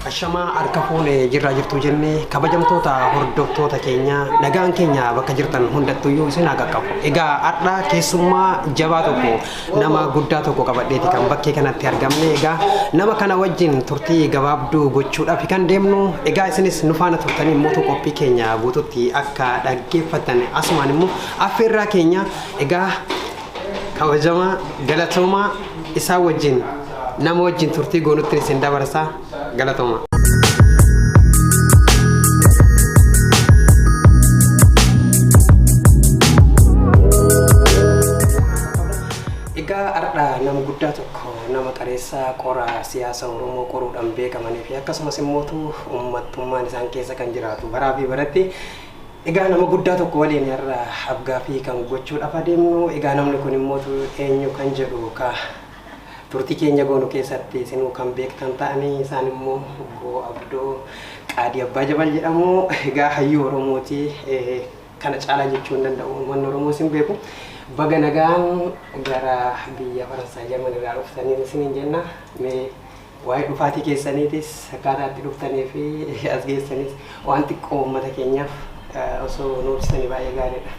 Ashamaa harka fuune jirraa jirtuu jenne kabajamtoota hordoftoota keenya nagaan keenya bakka jirtan hundattuyyuu isin haa qaqqabu. Egaa har'a keessummaa jabaa tokko nama guddaa tokko qabadheeti kan bakkee kanatti argamne. Egaa nama kana wajjin turtii gabaabduu gochuudhaaf kan deemnu. Egaa isinis nu faana turtanii immoo qophii keenya guututti akka dhaggeeffattan asumaan immoo affeerraa keenya. Egaa Kabajamaa galatoomaa isaa wajjin nama wajjin turtii goonutti isin dabarsaa galatoomaa. Egaa har'a nama guddaa tokko nama qareessaa qoraa siyaasa Oromoo qoruudhaan beekamanii fi akkasumas immoo uummattummaan isaan keessa kan jiraatu baraa fi baratti Egaa nama guddaa tokko waliin har'a afgaaffii kan gochuudhaaf adeemnu. Egaa namni kun immoo eenyu kan jedhu ka turtii keenya goonu keessatti isinuu kan beektan ta'anii isaan immoo obbo Abdoo Qaadii Abbaa Jabal jedhamu. Egaa hayyuu Oromooti kana caalaa jechuu hin danda'u. Uummanni Oromoos hin beeku. Baga nagaan gara biyya Faransaay Jarman irraa dhuftanii isiniin jenna. Mee Waa'ee dhufaatii keessaniitis akkaataa itti dhuftanii fi as geessanis waan xiqqoo uummata keenyaaf osoo nu ibsitanii baay'ee gaariidha.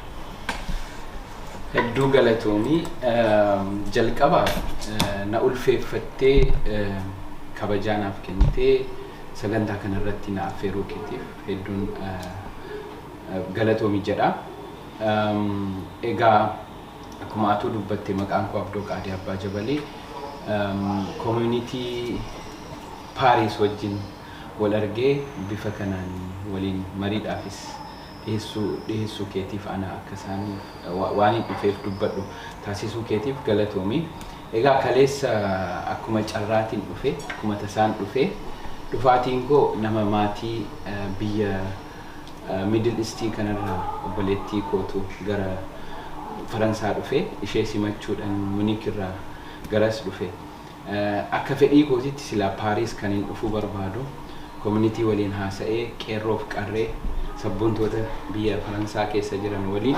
Hedduu galatoomi. Jalqaba na ulfeeffattee kabajaa naaf kennitee sagantaa kanarratti na affeeruu keetiif hedduun galatoomi jedha. Egaa Akkuma atuu dubbatte maqaan koo Abdoo Qaadee Abbaa Jabalee Community Paris wajjin wal argee bifa kanaan waliin mariidhaafis dhiheessuu dhiheessuu keetiif ana akka isaan waanin dhufeef dubbadhu taasisuu keetiif galatoomi. Egaa kaleessa akkuma carraatiin dhufe akkuma tasaan dhufee dhufaatiin koo nama maatii biyya Middle East kanarraa obboleettii kootu gara Faransaa dhufe. Ishee simachuudhan Munich irraa garas dhufe. Akka fedhii kootitti silaa Paris kanin dhufuu barbaadu community waliin haasa'ee qeerroof qarree sabboontoota biyya Faransaa keessa jiran waliin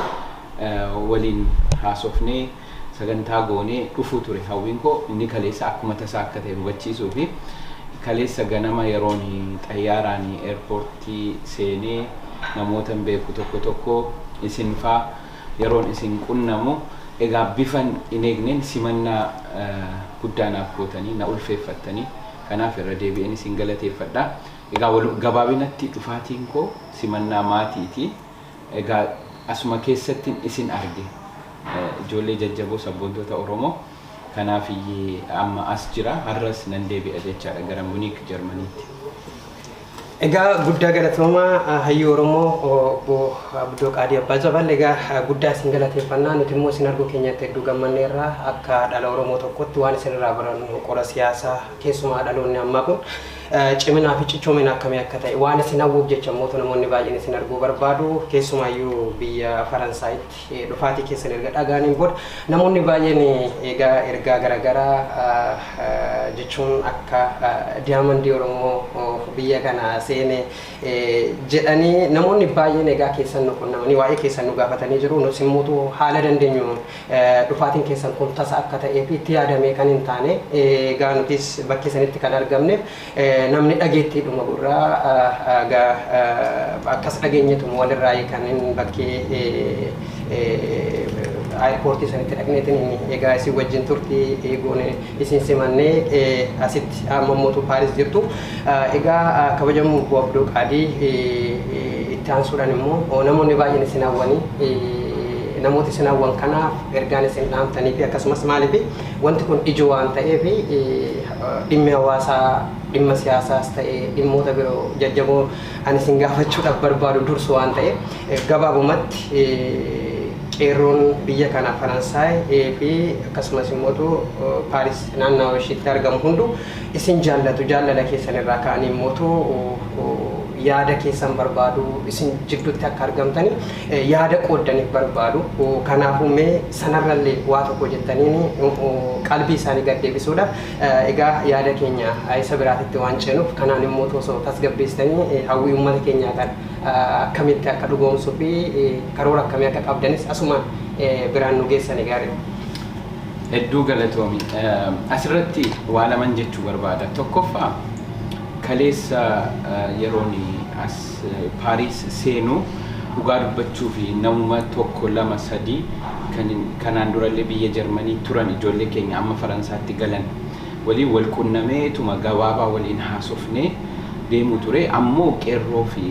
waliin haasofnee, Sagantaa goonee dhufuu ture hawwiin koo, inni kaleessaa akkuma tasaa akka ta'e hubachiisuufi. Kaleessa ganama yeroon xayyaaraan eerpoortii seenee namootan beeku tokko tokko, isinfaa, yeroon isin qunnamu, egaa bifan hin eegneen simannaa guddaa naaf gootanii, na ulfeeffattanii, kanaaf irra deebi'een isin galateeffadha. Egaa gabaabinatti dhufaatiin koo simannaa maatiiti. Egaa asuma keessattin isin arge ijoollee jajjaboo sabboontoota Oromoo. Kanaaf amma as jira, har'as nan deebi'a jechaadha gara Muniik Jarmaniitti. Egaa guddaa galatoomaa hayyuu Oromoo obbo Abdoo Qaadii Abbaa Jabal. Egaa guddaa isin galateeffanna. Nuti immoo isin arguu keenyatti hedduu gammanneerra. Akka dhala Oromoo tokkotti waan isin irraa barannu qora siyaasaa keessumaa dhaloonni ammaa kun Ciminaa fi cichoomina akkamii akka ta'e waan isin hawwuuf jecha mootu namoonni baay'een isin arguu barbaadu. Keessumaayyuu biyya Faransaayitti dhufaatii keessan erga dhagaaniin booda namoonni baay'een egaa ergaa garaagaraa jechuun akka diyaamandii Oromoo biyya kana seene jedhanii namoonni baay'een egaa keessan nu qunnamanii waa'ee keessan nu gaafatanii jiru. Nus immoo haala dandeenyu Dhufaatiin keessan kun tasa akka ta'ee fi itti yaadamee kan hin taane, egaa nutis bakkee sanitti kan argamneef namni dhageettiidhuma gurraa egaa akkas dhageenyetuma walirraayi kan hin bakkee airportii sanitti dhaqneetiin egaa isin wajjin turtii goone. Isin simannee asitti amma mootuu Paaris jirtu. Egaa kabajamu Obbo Abdoo Qaadii itti aansuudhaan immoo namoonni baay'een isin hawwanii namoota isin hawwan kanaaf ergaan isin dhaamtanii fi akkasumas maaliif wanti kun ijoo waan ta'eef dhimmi hawaasaa dhimma siyaasaas ta'ee dhimmoota biroo jajjaboo Ani isin gaafachuudhaaf barbaadu dursu waan ta'eef gabaabumatti qeerroon biyya kana Faransaay fi akkasumas immootu Paaris naannawa ishiitti argamu hundu isin jaallatu jaallala keessan irraa ka'anii immootu yaada keessan barbaadu isin jiddutti akka argamtanii yaada qooddaniif barbaadu kanaafuu mee sanarrallee waa tokko jettaniin qalbii isaanii gad deebisuudhaaf Egaa yaada keenya isa biraatitti waan ceenuuf kanaan immootu osoo tasgabbeessitanii hawwii uummata keenyaa kana akkamitti akka dhugoomsuu fi karoora akkamii akka qabdanis asumaan biraan nu geessani gaariidha. Hedduu galatoomi. Asirratti waa laman jechuu barbaada. Tokkoffaa kaleessa yeroon as Paris seenu dhugaa dubbachuufi namuma tokko lama sadii kan kanaan durallee biyya Jarmanii turan ijoollee keenya amma Faransaatti galan waliin wal qunnameetuma gabaabaa waliin haasofnee deemuu ture ammoo qeerroofi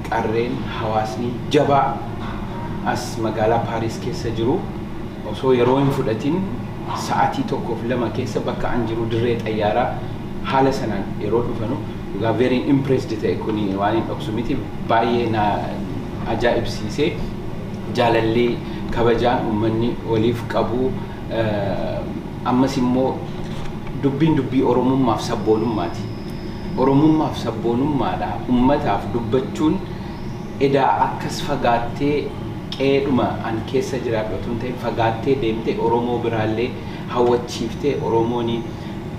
qarreen hawaasni jabaa as magaalaa Paris keessa jiru osoo yeroo hin fudhatin sa'atii tokkoof lama keessa bakka an jiru dirree xayyaaraa haala sanaan yeroo dhufanu Dhugaa very impressed ta'e kuni waan hin dhoksu miti baay'ee na ajaa'ibsiise jaalalli kabajaan ummanni waliif qabu eh, ammas immoo dubbiin dubbii oromummaaf sabboonummaati oromummaaf sabboonummaadha ummataaf dubbachuun edaa akkas fagaattee qeedhuma an keessa jiraadhu otoo hin ta'in fagaattee deemte oromoo biraallee hawwachiiftee Oromoon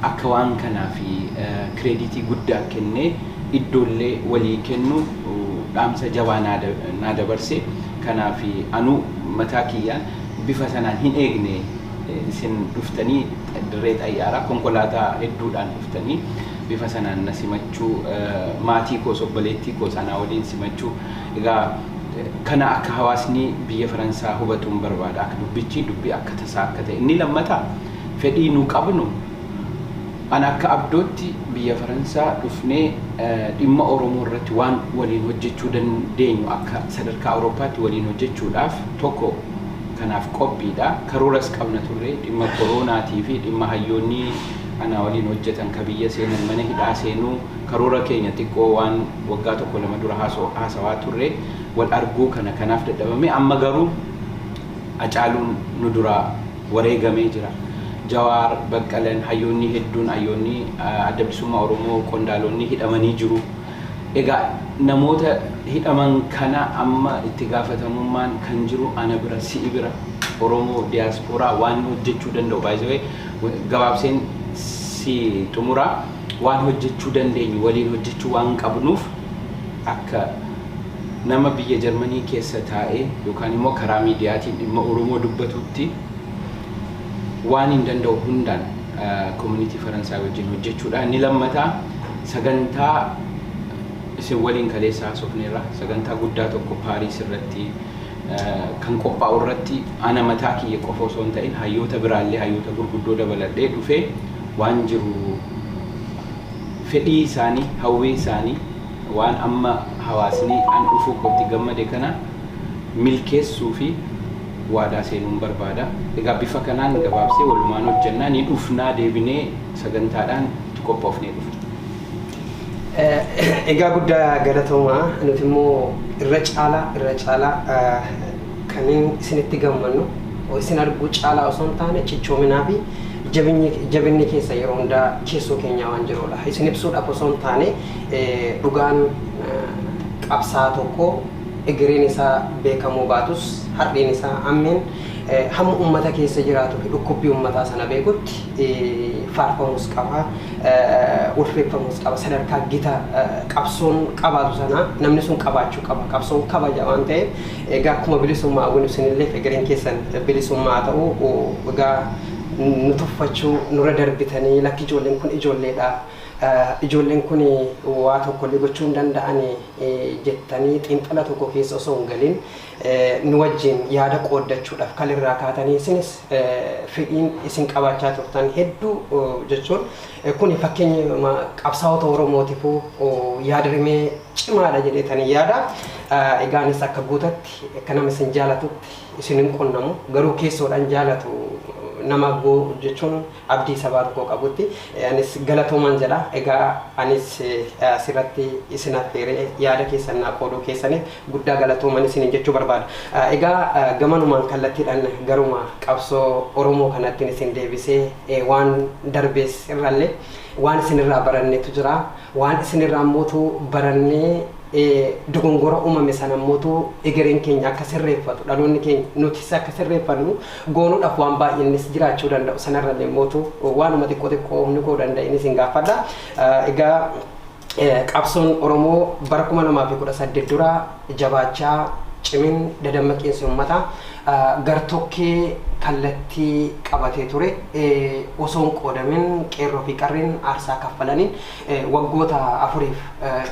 akka waan kanaaf kireediitii guddaa kennee iddoollee walii kennu dhaamsa jabaa naa dabarse. Kanaaf anuu mataa kiyyaan bifa sanaan hin eegne isin dhuftanii dirree xayyaaraa konkolaataa hedduudhaan dhuftanii bifa sanaan na simachuu maatii koos obboleettii koos anaa waliin simachuu Egaa kana akka hawaasni biyya Faransaa hubatuun barbaada. Akka dubbichi dubbi akka tasaa akka ta'e. Inni lammataa fedhii nu qabnu an akka abdootti biyya Faransaa dhufnee dhimma Oromoo irratti waan waliin hojjechuu dandeenyu akka sadarkaa Awurooppaatti waliin hojjechuudhaaf tokko kanaaf qophiidha. Karooras qabna turre dhimma koroonaatii fi dhimma hayyoonni anaa waliin hojjetan ka biyya seenan mana hidhaa seenuu karoora keenya xiqqoo waan Waggaa tokko lama dura haasawaa turre wal arguu kana kanaaf dadhabame amma garuu Hacaaluun nu duraa wareegamee jira. Jawaar, Baqqalan, hayyoonni hedduun hayyoonni Adda Bilisummaa Oromoo qondaaloonni hidhamanii jiru. Egaa namoota hidhaman kana amma itti gaafatamummaan kan jiru ana bira si'i bira Oromoo diyaaspooraa waan hojjechuu danda'u by the way gabaabseen si xumuraa. waan hojjechuu dandeenyu waliin hojjechuu waan qabnuuf akka nama biyya Jarmanii keessa taa'ee yookaan immoo karaa miidiyaatiin dhimma Oromoo dubbatuutti waaniin danda'u hundaan Komunitii Faransaay wajjin hojjechuudhaan ni lammata. Sagantaa isin waliin kaleessa haasofneerra sagantaa guddaa tokko Paariis irratti kan qophaa'u irratti ana mataa kiyya qofa osoo hin ta'in hayyoota biraallee hayyoota gurguddoo dabaladhee dhufee waan jiru fedhii isaani hawwii isaani waan amma hawaasni an dhufuu kootti gammade kana milkeessuufi waadaa seenuun barbaada. Egaa bifa kanaan gabaabsee walumaan hojjannaa ni dhufnaa deebinee sagantaadhaan itti qophoofnee dhufna. Egaa guddaa galatoomaa nuti immoo irra caalaa irra caalaa Kanneen isinitti gammannu isin arguu caalaa osoo hin taane cichoominaa fi jabinni keessan yeroo hundaa keessoo keenyaa waan jiruudha. Isin ibsuudhaaf osoo hin taane dhugaan qabsaa'aa tokkoo egereen isaa beekamuu baatus har'een isaa ammeen hamma ummata keessa jiraatuu fi dhukkubbii ummataa sana beekutti faarfamuus qaba, ulfeeffamuus qaba. Sadarkaa gita qabsoon qabaatu sana namni sun qabaachuu qaba. Qabsoon kabaja waan ta'eef. Egaa akkuma bilisummaa hawwinu isinilleef egereen keessan bilisummaa haa ta'u. Egaa nu tuffachuu nurra darbitanii lakki ijoolleen kun ijoolleedha, ijoolleen kun waa tokkollee gochuu hin danda'ani jettanii xiinxala tokko keessa osoo hin galin nu wajjin yaada qooddachuudhaaf kal irraa kaatanii isinis fedhiin isin qabaachaa turtan hedduu jechuun kuni fakkeenyuma qabsaa'ota Oromootifuu yaadrimee cimaadha jedheetanii yaada. Egaa anis akka guutatti akka nama isin jaalatutti isin hin qunnamu garuu keessoodhaan jaalatu nama goo jechuun abdii sabaa tokko qabutti anis galatoomaan jedha. Egaa anis asirratti isin affeeree yaada keessan naa qooduu keessaniif guddaa galatooman isiniin jechuu barbaada. Egaa gamanumaan kallattiidhaan garuma qabsoo Oromoo kanattiin isin deebisee waan darbees irrallee waan isinirraa barannetu jira. Waan isin irraa mootu barannee ee, dogongora umame sana mootu egereen keenya akka sirreeffatu, dhaloonni keenya nutis akka sirreeffannu goonuudhaaf waan baay'eennis jiraachuu danda'u. Sana irrallee mootu waanuma xiqqoo xiqqoo humni koo danda'een isin gaafadha. Egaa qabsoon Oromoo bara 2018 dura jabaachaa, cimin, dadammaqiinsi ummataa gartokkee kallattii qabatee ture osoo hin qoodamin Qeerroo fi Qarreen aarsaa kaffalaniin waggoota afuriif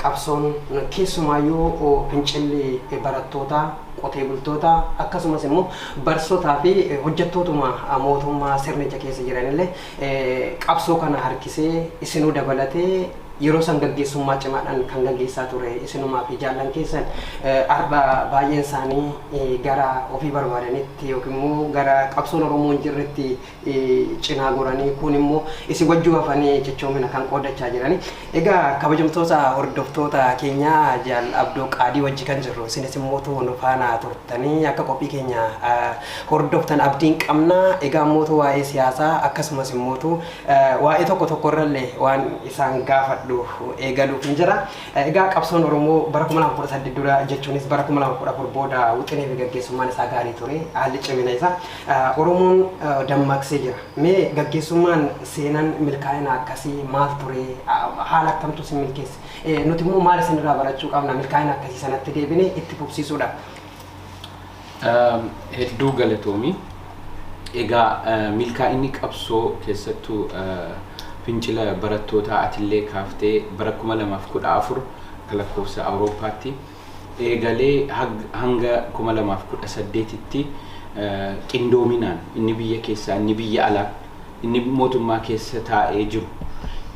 qabsoon keessumaayyuu fincilli barattootaa, qotee bultootaa akkasumas immoo barsotaa fi hojjattootuma mootummaa sirnicha keessa jiranillee Qabsoo kana harkisee isinuu dabalatee yeroo san gaggeessummaa cimaadhaan kan gaggeessaa ture isinumaa fi jaallan keessan har'a baay'een isaanii gara ofii barbaadanitti yookiin immoo gara qabsoon Oromoo hin jirretti cinaa goranii kuun immoo isin wajjuu hafanii cichoomina kan qoodachaa jirani. Egaa kabajamtoota hordoftoota keenya Jaal Abdoo Qaadii wajji kan jirru isinis immootu nu faana turtanii akka qophii keenya hordoftan abdiin qabna. Egaa immootu waa'ee siyaasaa akkasumas immootu waa'ee tokko tokko irrallee waan isaan gaafadhu eegaluuf hin jira. Egaa qabsoon Oromoo bara 2018 dura jechuunis bara 2014 booda wixinee fi gaggeessummaan isaa gaarii ture haalli cimina isaa Oromoon dammaqsee jira. Mee gaggeessummaan seenan milkaa'ina akkasii maal ture? Haala akkamtu isin milkeesse? Nuti immoo maal isin irraa barachuu qabna milkaa'ina akkasii sanatti deebine itti fufsiisuudhaaf? Hedduu galatoomi. Egaa milkaa'inni qabsoo keessattuu fincila barattootaa atillee kaaftee bara 2014 akka lakkoofsa Awurooppaatti eegalee hanga 2018tti qindoominaan inni biyya keessaa, inni biyya alaa, inni mootummaa keessa taa'ee jiru,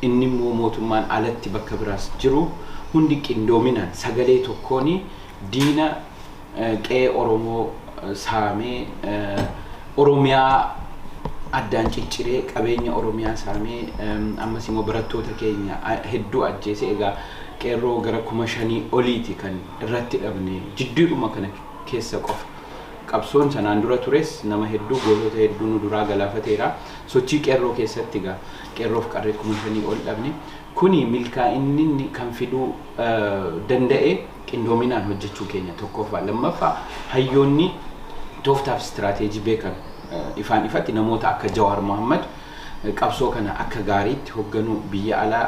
inni immoo mootummaan alatti bakka biraas jiru hundi qindoominaan sagalee tokkoon diina qe'ee Oromoo saamee Oromiyaa addaan cicciree qabeenya Oromiyaa saamee ammas immoo barattoota keenya hedduu ajjeese egaa Qeerroo gara kuma shanii oliiti kan irratti dhabne jidduudhuma kana keessa qofa. Qabsoon sanaan dura tures nama hedduu, gootota hedduu nu duraa galaafateera. Sochii Qeerroo keessatti egaa Qeerroof Qarree kuma shanii ol dhabne. Kuni milkaa'inninni kan fiduu danda'e qindoominaan hojjechuu keenya tokkoffaa. Lammaffaa hayyoonni tooftaa fi istiraateejii beekan ifaan ifatti namoota akka Jawaar Mohaammad qabsoo kana akka gaariitti hogganuu biyya alaa,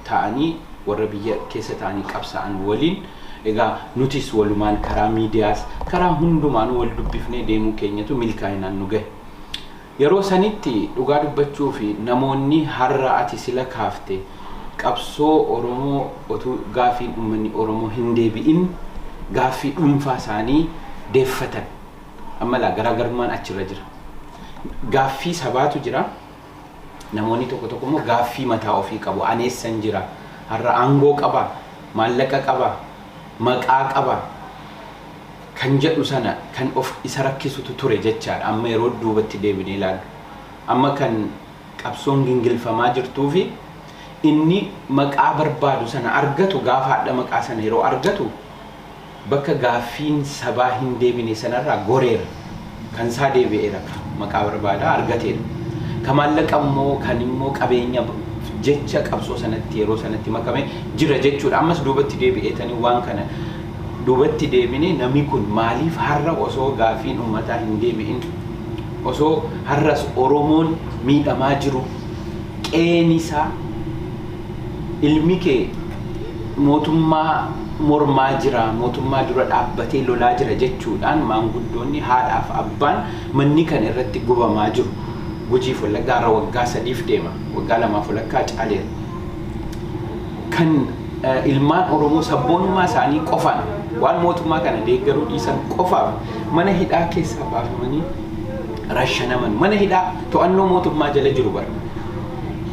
taa'anii warra biyya keessa taa'anii qabsaa'an waliin egaa nutis walumaan karaa miidiyaas karaa hundumaanuu wal dubbifnee deemuu keenyatu milkaa'inaan nu gahe. Yeroo sanitti dhugaa dubbachuu fi namoonni har'a ati sila kaafte qabsoo Oromoo otuu gaaffiin ummanni Oromoo hin deebi'in gaaffii dhuunfaa isaanii deeffatan. Amma ilaa garaagarummaan achirra jira. Gaaffii sabaatu jira. Namoonni tokko tokko immoo gaaffii mataa ofii qabu. Ani eessan jira? Har'a aangoo qabaa? Maallaqa qabaa? Maqaa qabaa? Kan jedhu sana kan of isa rakkisutu ture jechaadha. Amma yeroo duubatti deebinee ilaallu. Amma kan qabsoon gingilfamaa jirtuufi inni maqaa barbaadu sana argatu gaafa hadha maqaa sana yeroo argatu Bakka gaaffiin sabaa hin deebine sanarraa goreera. Kan isaa deebi'eera ka maqaa barbaadaa argateera. Ka maallaqa immoo kan immoo qabeenya jecha qabsoo sanatti yeroo sanatti makame jira jechuudha. Ammas duubatti deebi'eetanii waan kana duubatti deebine nami kun maaliif harra osoo gaaffiin ummataa hin deebi'in osoo harras Oromoon miidhamaa jiru qe'een isaa, ilmi kee mootummaa mormaa jira, mootummaa dura dhaabbatee lolaa jira jechuudhaan maanguddoonni haadhaaf abbaan manni kan irratti gubamaa jiru. Gujiif Wallaggaa har'a waggaa sadiif deema. Waggaa lamaaf walakkaa caaleera. Kan ilmaan Oromoo sabboonummaa isaanii qofaan waan mootummaa kana deeggaruu dhiisan qofaaf mana hidhaa keessaa baafamanii rashanaman. Mana hidhaa to'annoo mootummaa jala jiru bara.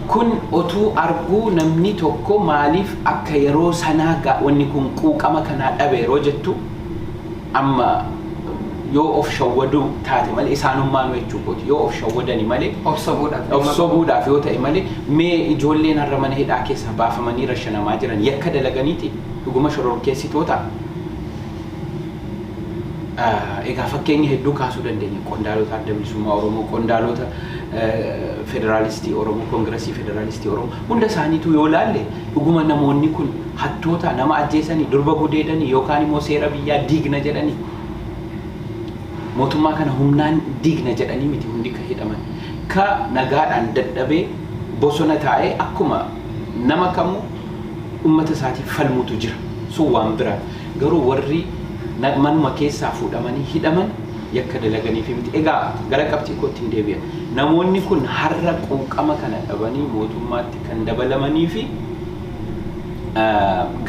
Kun otuu arguu namni tokko maaliif akka yeroo sanaa gaa wanni kun quuqama kanaa dhabe yeroo jettu amma yoo of shawwaduu taate malee isaanummaanuu jechuu kooti yoo of shawwadani malee Of sobuudhaaf of nama sobuu dhaaf yoo ta'e malee mee ijoolleen har'a mana hidhaa keessaa baafamanii rashanamaa jiran yakka dalaganiiti dhuguma shororkeessitoota? Egaa fakkeenya hedduu kaasuu dandeenya. Qondaalota adda bilisummaa Oromoo, qondaalota federaalistii Oromoo, koongirasii federaalistii Oromoo hunda isaaniitu yoo laalle dhuguma namoonni kun hattoota nama ajjeesanii, durba gudeedanii yookaan immoo seera biyyaa diigna jedhanii mootummaa kana humnaan diigna jedhanii miti hundi ka hidhaman. Ka nagaadhaan dadhabee bosona taa'ee akkuma nama kamuu ummata isaatiif falmutu jira. Sun waan biraati. Garuu warri manuma keessaa fuudhamanii hidhaman yakka dalaganiifi miti. Egaa gara qabxii koottin deebi'a. Namoonni kun har'a quuqama kana dhabanii mootummaatti kan dabalamaniifi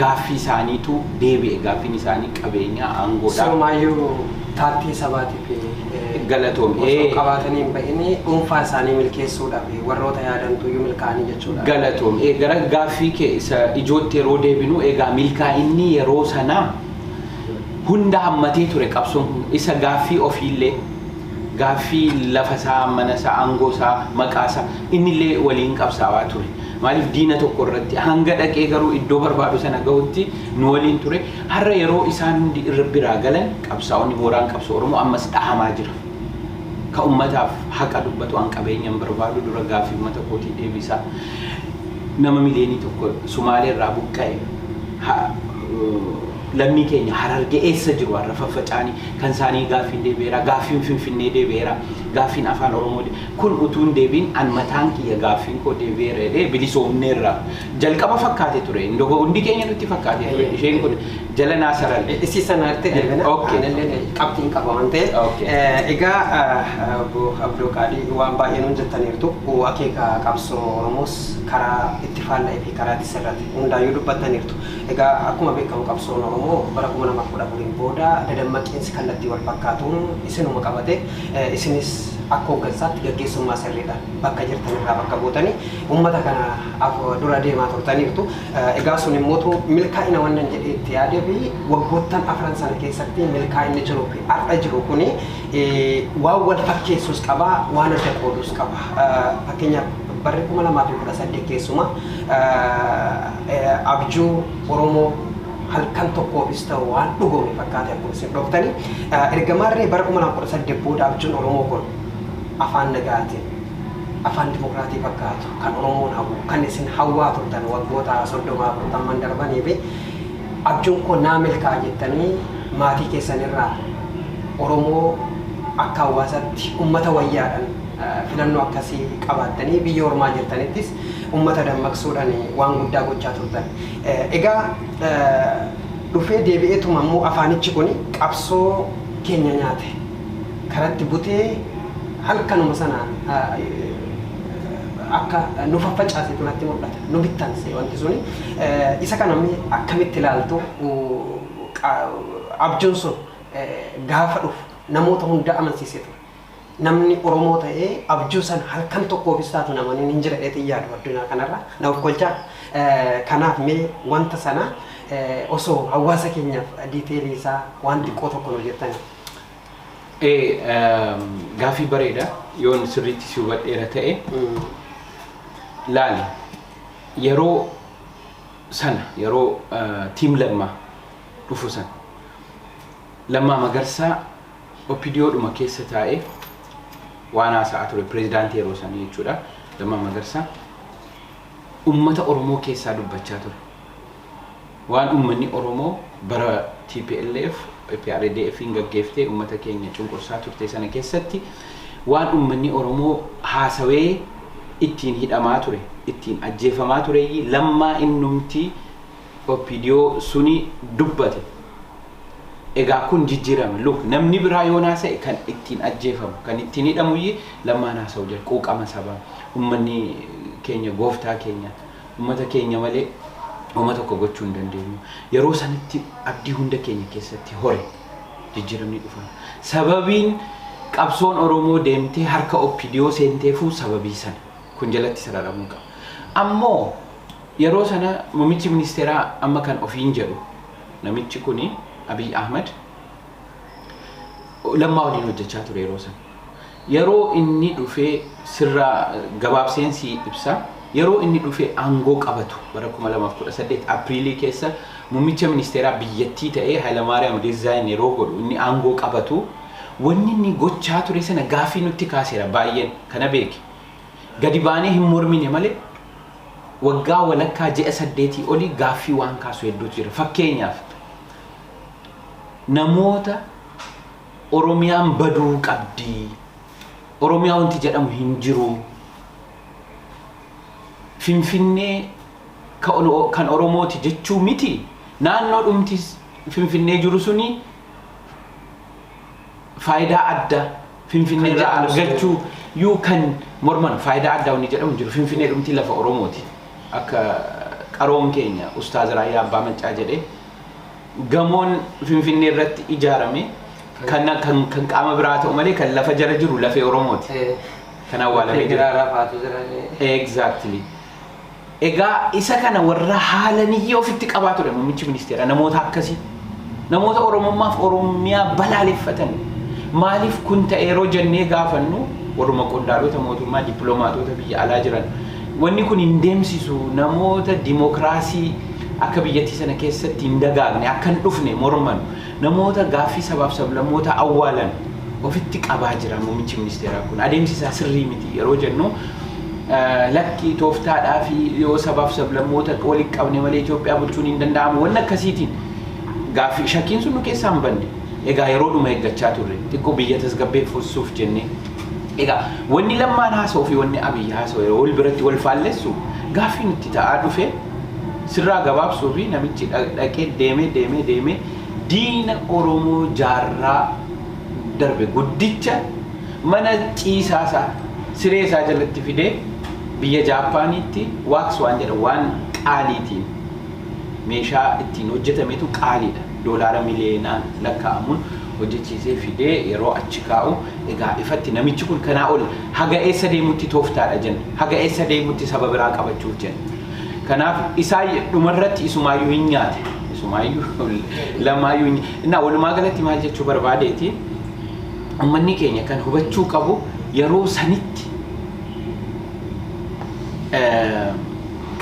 gaaffii isaaniitu deebi'e. Gaaffiin isaanii qabeenyaa, aangoodha. Sirumaayyu paartii sabaati. Galatoom. Osoo qabaatanii hin bahinii dhuunfaa isaanii milkeessuudhaaf warroota yaadantu iyyuu milkaa'anii jechuudha. Galatoom. Ee, Gara gaaffii kee isa ijootti yeroo deebinu egaa milkaa'inni yeroo sanaa hunda hammatee ture qabsoon kun isa gaaffii ofiillee gaaffii lafa isaa, mana isaa, aangoo isaa, maqaa isaa innillee waliin qabsaawaa ture. Maaliif diina tokko irratti hanga dhaqee garuu iddoo barbaadu sana gahutti nu waliin ture. Har'a yeroo isaan hundi irra biraa galan qabsaa'onni mooraan qabsoo Oromoo ammas dhahamaa jira. Ka ummataaf haqa dubbatu an qabeenya hin barbaadu dura gaaffii ummata kootii deebisaa. Nama miliyeenii tokko Sumaalee irraa buqqa'e ha lammii keenya Hararge eessa jiru har'a faffaca'anii kan isaanii gaaffiin deebi'eeraa? Gaaffiin Finfinnee deebi'eeraa? Gaaffiin Afaan Oromoo kun utuu hin deebi'in an mataan kiyya gaaffiin koo deebi'eera jedhee bilisoomneerra. Jalqaba fakkaate ture. Ndogo hundi keenya nutti fakkaate ture. Ayyee. Isheen kun jala naa saran. Issi sana irratti deebina. Okay. Anallee qabxiin qaba waan ta'eef. Okay. Eh, Egaa ah, ah, obbo Abdoo Qaadii waan baay'ee nuun jettaniirtu. Oh, Akeeka qabsoo Oromoos karaa itti faalla'ee fi karaa itti sirrate hundaayyuu dubbattaniirtu. Egaa akkuma beekamu qabsoon Oromoo bara 2014 booda dadammaqiinsi kallattii wal fakkaatuun isinuma qabate. Eh, Isinis akka hooggansaatti gaggeessummaa sirriidhaan bakka jirtan irraa bakka buutanii uummata kana af dura deemaa turtaniirtu. Egaa sun immootu milkaa'ina wannan jedhee itti yaadee fi waggoottan afran sana keessatti milkaa'inni jiruu fi har'a jiru kuni waan wal fakkeessus qaba, waan adda qoodus qaba. Fakkeenyaaf barri 2018 keessumaa abjuu Oromoo halkan tokkoofis ta'u waan dhugoome fakkaate akkuma isin dhooftani. Erga maarree bara 2018 booda abjuun Oromoo kun afaan nagaatiin, afaan dimokiraatii fakkaatu, kan Oromoon hawwu, kan isin hawwaa turtan waggoota 30, 40n darbanii fi abjuun koo naa milkaa'a jettanii maatii keessan irraa Oromoo akka hawaasaatti ummata wayyaadhan filannoo akkasii qabaattanii biyya ormaa jirtanittis ummata dammaqsuudhan waan guddaa gochaa turtan. Egaa dhufee deebi'eetuma immoo afaanichi kuni qabsoo keenya nyaate, karatti butee halkanuma sana akka nu faffacaasetu natti mul'ata. Nu bittanse wanti suni. Isa kana mee akkamitti ilaaltu abjuun sun gaafa dhufu namoota hunda amansiisee ture. Namni Oromoo ta'ee abjuu san halkan tokkoofis taatu namaniin hin jira dheetiin yaadu addunyaa kanarra na okkolchaa. Kanaaf mee wanta sana osoo hawaasa keenyaaf diiteelii isaa waan xiqqoo tokko nu jettanii. Ee, ehm, gaafii bareeda yoon sirriitti si hubadheera ta'e laali yeroo sana yeroo eh, tiim lammaa dhufu sana lammaa magarsaa opidiyoodhuma keessa taa'ee waan haasa'aa ture pireezidaantii yeroo sana jechuudha lammaa magarsaa ummata oromoo keessaa dubbachaa ture Waan uummanni Oromoo bara tplf, EPRDFn gaggeeftee uummata keenya cunqursaa turte sana keessatti waan uummanni Oromoo haasawee ittiin hidhamaa ture, ittiin ajjeefamaa tureyyi Lammaa innumti opdo suni dubbate. Egaa kun jijjiirame. Look, namni biraa yoon haasa'e kan ittiin ajjeefamu, kan ittiin hidhamuyyi Lammaan haasa'u jira. Quuqama sabaa. Uummanni keenya gooftaa keenya. Ummata keenya malee homa tokko gochuu hin dandeenyu. Yeroo sanitti abdii hunda keenya keessatti hore. Jijjiiramni dhufa. Sababiin qabsoon Oromoo deemtee harka OPDO seenteefuu sababii sana. Kun jalatti sararamuu qaba. Ammoo yeroo sana muummichi ministeeraa amma kan ofiin jedhu namichi kuni Abiy Ahmad Lammaa waliin hojjechaa ture yeroo sana. Yeroo inni dhufee sirraa gabaabseen sii ibsa. Yeroo inni dhufee aangoo qabatu bara 2018 Apriilii keessa mummicha ministeeraa biyyattii ta'ee Hayilamaariyaam resign yeroo godhu inni aangoo qabatu wanni inni gochaa ture sana gaaffii nutti kaaseera baay'een kana beeki gadi baanee hin mormine malee waggaa walakkaa ji'a saddeetii olii gaaffii waan kaasu hedduutu jira fakkeenyaaf namoota Oromiyaan baduu qabdi. Oromiyaa wanti jedhamu hin jiru. Finfinnee ka ono- kan Oromooti jechuu miti. Naannoo dhumti s- Finfinnee jiru suni faayidaa adda Finfinnee Kan irraa jedhamu sun- argachuu yuu kan morman faayidaa addaa wanni jedhamu hin jiru. Finfinnee dhumti lafa Oromooti. Akka qaroon keenya Ustaaz Raayyaa Abbaa Maccaa jedhee Gamoon Finfinnee irratti ijaarame kan kan qaama biraa ta'u malee kan lafa jala jiru lafee Oromooti. Kan awwaalamee jiru. Giraa rafaatu jiranii. Exactly. Egaa isa kana warra haalaniyyee ofitti qabaa ture muummichi ministeera namoota akkasii. Namoota Oromummaaf Oromiyaa balaaleffatan. Maaliif kun ta'e yeroo jennee gaafannu warruma qondaalota mootummaa dippiloomaatoota biyya alaa jiran Wanni kun hin deemsisu namoota dimokiraasii akka biyyattii sana keessatti hin dagaagne, akka hin dhufne morman, namoota gaaffii sabaaf sablammootaa awwaalan ofitti qabaa jira muummichi ministeeraa kun. Adeemsi isaa sirrii miti yeroo jennu lakki tooftaadhaafi yoo sabaaf sablammoota walitti qabne malee Itoophiyaa bulchuun hin danda'amu wanni akkasiitiin gaaffii shakkiin sun nu keessaa hin banne. Egaa yeroodhuma eeggachaa turre xiqqoo biyya tasgabbeeffuuf jennee. Egaa wanni lammaan haasoo fi wanni abiyyi haasoo yeroo wal biratti wal faallessu gaaffii nutti ta'aa dhufe sirraa gabaabsuu fi namichi dhaqee deemee deemee deemee diina Oromoo jaarraa darbe guddicha mana ciisaa isaa siree isaa jalatti fidee biyya Jaappaaniitti waaks waan jedha waan qaaliitiin meeshaa ittiin hojjetametu qaaliidha doolaara miliyoonaan lakkaa'amuun hojjechiisee fidee yeroo achi kaa'u Egaa ifatti namichi kun kanaa ol haga eessa deemutti tooftaadha jenna? Haga eessa deemutti saba biraa qabachuuf jenna? Kanaaf isaa dhumarratti isumaayyuu hin nyaate. Isumaayyuu lamaayyuu hin Innaa walumaa galatti maal jechuu barbaadeeti? Ummanni keenya kan hubachuu qabu yeroo sanitti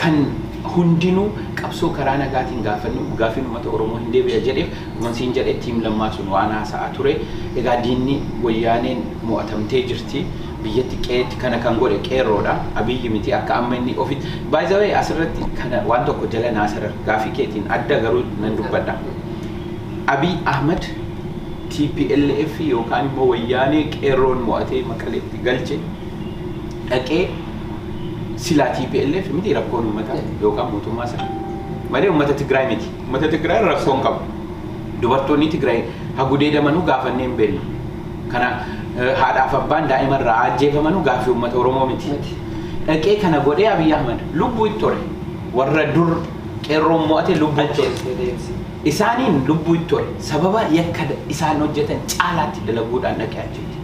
kan hundinuu qabsoo karaa nagaatiin gaafannu gaafiin uummata Oromoo hin deebi'a jedheef Wan siin jedhe team lammaa sun waan haasa'aa ture egaa diinni wayyaaneen mo'atamtee jirti biyyatti qe'eetti kana kan godhe qeerroodha Abiyyi miti akka amma inni ofitti by the way asirratti kana waan tokko jala naa sarar gaafii keetiin adda garuu nan dubbadha Abiy Ahmed tplf yookaan immoo wayyaanee qeerroon mo'atee maqaleetti galche dhaqee silaa tplf miti rakkoon ummataa yookaan mootummaa isaa malee ummata Tigraay miti. Ummata Tigraay rakkoo hin qabu. Dubartoonni Tigraay ha gudeedamanuu gaafannee hin beeknu. Kana haadhaaf abbaan daa'ima irraa ajjeefamanuu gaaffii ummata Oromoo miti. Dhaqee kana godhee Abiy Ahmad lubbuu itti hore. Warra dur qeerroon mo'ate lubbuu itti hore. Isaaniin lubbuu itti hore. Sababa yakka isaan hojjetan caalaatti dalaguudhaan dhaqee achitti.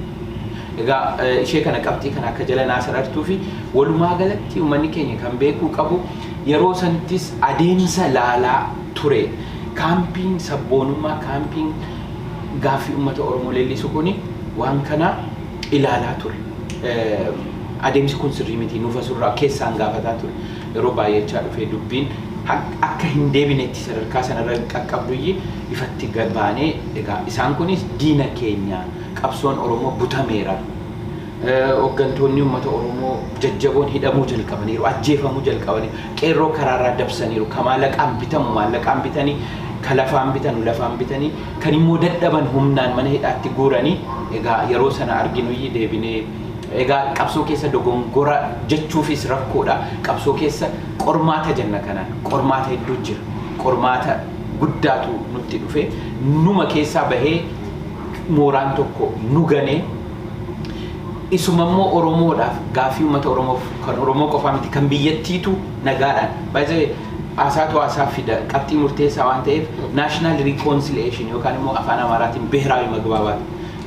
Egaa ishee kana qabxii kana akka jala naa sarartuu fi walumaa galatti uummanni keenya kan beekuu qabu Yeroo sanittis adeemsa laalaa ture. Kaampiin sabboonummaa, kaampiin gaaffii uummata Oromoo leellisu kuni waan kana ilaalaa ture. Adeemsi kun sirrii miti, nuuf as irraa keessaan gaafataa ture. Yeroo baay'achaa dhufee dubbiin akka hin deebinetti sadarkaa sana irra qaqqabduyyi ifatti gad baanee egaa isaan kunis diina keenya, qabsoon Oromoo butameera, Hoggantoonni ummata Oromoo jajjaboon hidhamuu jalqabaniiru, ajjeefamuu jalqabaniiru, qeerroo karaarraa dabsaniiru, ka maalaqaan bitamu maallaqaan bitanii, ka lafaan bitanu lafaan bitanii, kan immoo dadhaban humnaan mana hidhaatti guuranii, egaa yeroo sana arginuyyi deebinee egaa qabsoo keessa dogongora jechuufiis rakkoodha, qabsoo keessa qormaata jenna kanaan, qormaata hedduu jira, qormaata guddaatu nutti dhufe, numa keessaa bahee mooraan tokko nu ganee, Isumammoo Oromoodhaaf, gaaffii uummata Oromoof, kan Oromoo qofaa miti, kan biyyattiitu nagaadhaan, by the way, haasaatu haasaa fida, qabxii murteessaa waan ta'eef, national reconciliation yookaan immoo Afaan Amaaraatiin Biheraawi Magbaabaat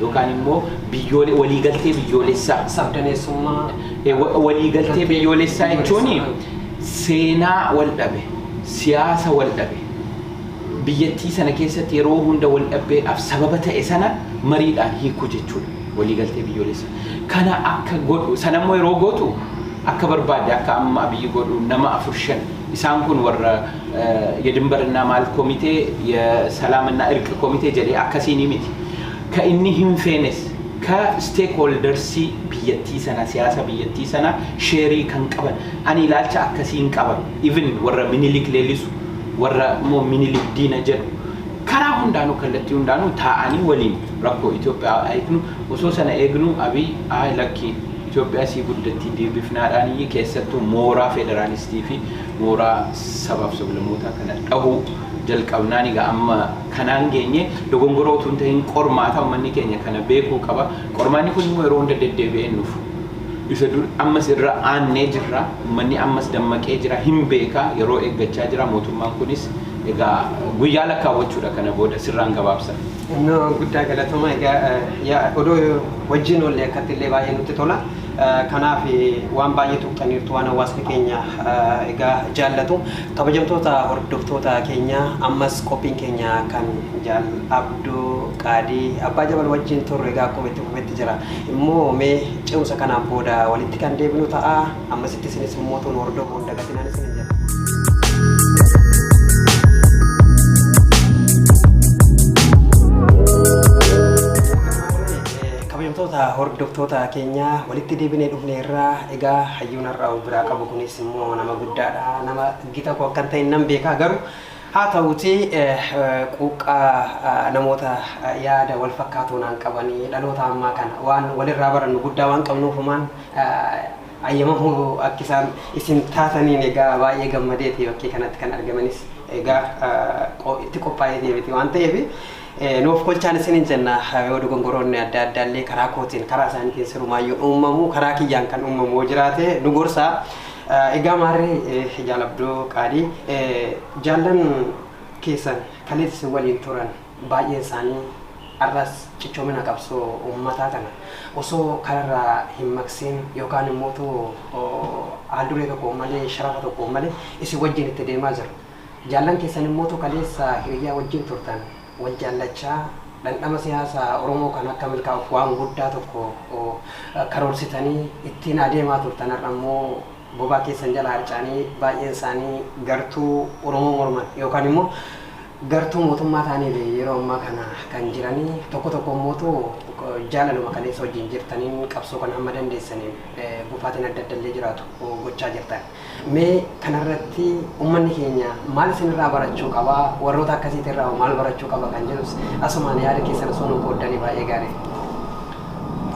yookaan immoo biyyoole, waliigaltee biyyoolessaa. Sabdaneessummaa Ee, wa- waliigaltee Galtee biyyoolessaa jechuun biyyoolessaa. seenaa wal dhabe, siyaasa wal dhabe, biyyattii sana keessatti yeroo hunda waldhabbeedhaaf sababa ta'e sana mariidhaan hiikuu jechuudha. Waliigaltee biyyoolessa kana akka godhu sanammoo yeroo gootu akka barbaadde akka amma Abiyyi godhu nama afur shan isaan kun warra yedinbarinnaa maal komitee yesalaaminaa irqi komitee jedhee akkasiinii miti. Ka inni hinfeenes ka stake holdersii biyyattii sana siyaasa biyyattii sana sheerii kan qaban ani ilaalcha akkasiin qaba. even warra minilik leellisu warra immoo minilik diina jedhu karaa hundaanuu kallattii hundaanuu taa'anii waliin rakkoo Itoophiyaa hiiknu osoo sana eegnu Abiy ayi lakkii Itoophiyaa sii guddattii deebifnaadhaan iyyii keessattuu mooraa federaalistii fi mooraa sabaaf sablamootaa kana dhahuu jalqabnaan egaa amma kanaan geenye dogongoroo utuu hin tahin qormaata ummanni keenya kana beekuu qaba qormaanni kun immoo yeroo hunda deddeebi'ee nuuf Isa dur ammas irra aannee jirra. Ummanni ammas dammaqee jira. Hin beeka. Yeroo eeggachaa jira. Mootummaan kunis egaa guyyaa lakkaawwachuudha kana booda. Sirraan gabaabsa. No guddaa galatoma egaa ya odoo wajjin oolle akkatti illee baay'ee nutti tola kanaaf waan baay'ee tuqxaniirtu waan hawaasni keenya egaa jaallatu kabajamtoota hordoftoota keenya ammas qophiin keenya kan jaal abduu qaadii abbaa jabal wajjin turre egaa akkuma itti fufetti jira. Immoo mee ce'umsa kanaan booda walitti kan deebinu ta'a. Ammasitti isinis mootuun hordofuu hin dagatinaan isinin jedha. kabajamtoota hordoftoota keenya walitti deebinee dhufne irraa egaa hayyuun har'aa of biraa qabu kunis immoo nama guddaadha nama gita koo akkan ta'e nan beekaa garuu Haa ta'uutii quuqqaa namoota yaada wal fakkaatoo naan qabanii dhaloota ammaa kana waan wal irraa barannu guddaa waan qabnuuf humaan ayyamamu akkisaan isin taataniin egaa baay'ee gammadeeti bakkee kanatti kan argamanis egaa itti qophaa'ee deemiti waan ta'eef Nuuf kolchaan isinin jenna yoo dogongoroonni adda addaa illee karaa kootiin karaa isaaniitiin sirumaayyuu uumamu karaa kiyyaan kan uumamu yoo jiraate nu gorsaa. Egaa maarree jaalabdoo qaalii jaallan keessan kaleessa isin waliin turan baay'een isaanii har'as cichoomina qabsoo uummataa kana osoo kanarraa hin maqsiin yookaan immoo haalduree tokko malee sharafa tokko malee isin wajjin itti deemaa jiru. Jaallan keessan immootu kaleessa hiriyyaa wajjin turtan wal jaallachaa dhandhama siyaasa Oromoo kan akka milkaa'uuf waan guddaa tokko karoorsitanii ittiin adeemaa turtan har'a immoo bobaa keessan jalaa harca'anii baay'een isaanii gartuu Oromoo morman yookaan immoo gartuu mootummaa ta'aniif yeroo ammaa kana kan jiranii tokko tokko immootu jaalaluma kaleessa wajjin jirtaniin qabsoo kana hamma dandeessaniin gufaatiin adda adda illee jiraatu gochaa jirtan. Mee kana irratti ummanni keenya maal isin irraa barachuu qaba? Warroota akkasiiti irraa hoo maal barachuu qaba kan jedhus asumaan yaada keessan osoo nuu qooddanii baay'ee gaarii.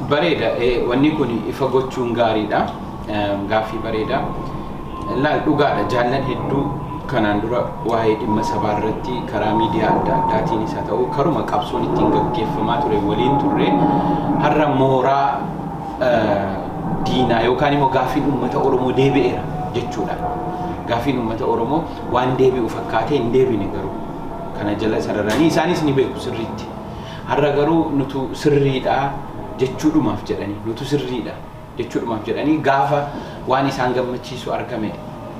Bareeda wanni kun ifa gochuun gaariidha. Gaaffii bareeda. Laal dhugaadha jaallan hedduu kanaan dura waa'ee dhimma sabaa irratti karaa miidiyaa adda addaatiinis haa ta'u karuma qabsoon ittiin gaggeeffamaa ture waliin turre har'a mooraa diinaa yookaan immoo gaaffiin uummata Oromoo deebi'eera jechuudhaan gaaffiin uummata Oromoo waan deebi'u fakkaatee hin deebine garuu kana jala sararanii isaanis ni beeku sirriitti. Har'a garuu nutu sirriidha jechuudhumaaf jedhanii nutu sirriidha jechuudhumaaf jedhanii gaafa waan isaan gammachiisu argame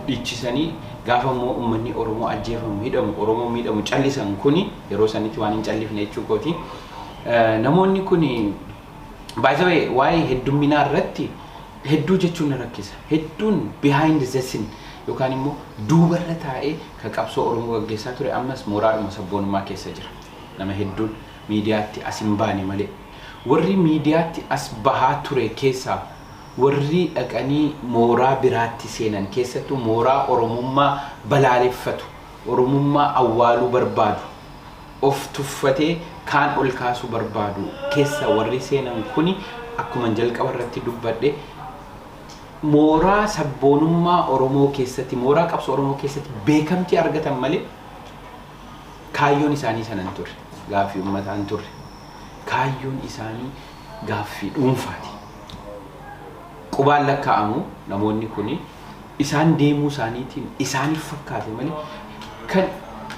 dhichisanii gaafa immoo uummanni Oromoo ajjeefamu hidhamu Oromoo miidhamu callisan kuni yeroo sanitti waan hin callifne jechuu kooti. Namoonni kuni By the way, waa'ee heddumminaa irratti hedduu jechuun na rakkisa. Hedduun behind the scene yookaan immoo duubarra taa'ee ka qabsoo Oromoo gaggeessaa ture ammas mooraadhuma sabboonummaa keessa jira. Nama hedduun miidiyaatti as hin baane malee. Warri miidiyaatti as bahaa ture keessaa warri dhaqanii mooraa biraatti seenan keessattuu mooraa Oromummaa balaaleffatu, Oromummaa awwaaluu barbaadu, of tuffatee kaan ol kaasuu barbaadu kessa warri seenan kuni akkuman jalqaba irratti dubbadhe mooraa sabboonummaa Oromoo keessatti mooraa qabsoo Oromoo keessatti beekamtii argatan malee kaayyoon isaanii sana hin turre. Gaaffii ummataa hin turre. Kaayyoon isaanii gaaffii dhuunfaati. Qubaan lakkaa'amu namoonni kuni. isaan deemuu isaaniitiin isaaniif fakkaate malee kan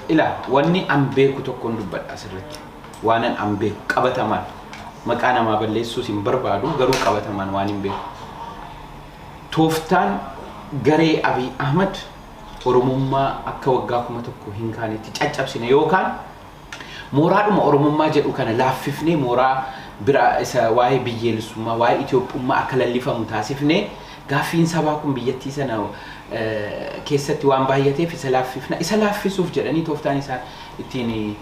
ilaa wanni an beeku tokkon dubbadha asirratti waanan an beeku qabatamaan maqaa namaa balleessuus hin barbaadu garuu qabatamaan waan hin beeku tooftaan garee Abiy Ahmad Oromummaa akka waggaa kuma tokko hin kaanetti caccabsina yookaan Mooraadhuma Oromummaa jedhu kana laaffifnee mooraa biraa isa waa'ee biyyeelessummaa, waa'ee Itoophummaa akka lallifamu taasifnee gaaffiin sabaa kun biyyattii sana keessatti waan baay'ateef isa laaffifna. Isa laaffisuuf jedhanii tooftaan isaan ittiin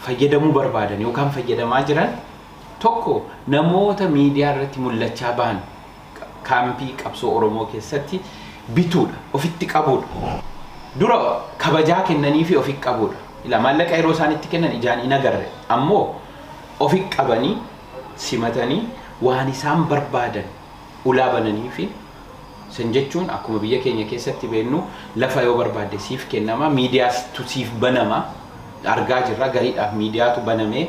fayyadamuu barbaadan yookaan fayyadamaa jiran tokko namoota miidiyaa irratti mul'achaa bahan kaampii qabsoo Oromoo keessatti bituudha, ofitti qabuudha. Dura kabajaa kennaniifii ofi qabuudha. Ilaa maallaqa yeroo isaan itti kennan ijaan hin agarre. Ammoo ofi qabanii simatanii waan isaan barbaadan ulaa bananiifi. San jechuun akkuma biyya keenya keessatti beennu lafa yoo barbaadde siif kennama, miidiyaatu siif banama. Argaa jirra gariidhaaf miidiyaatu banamee.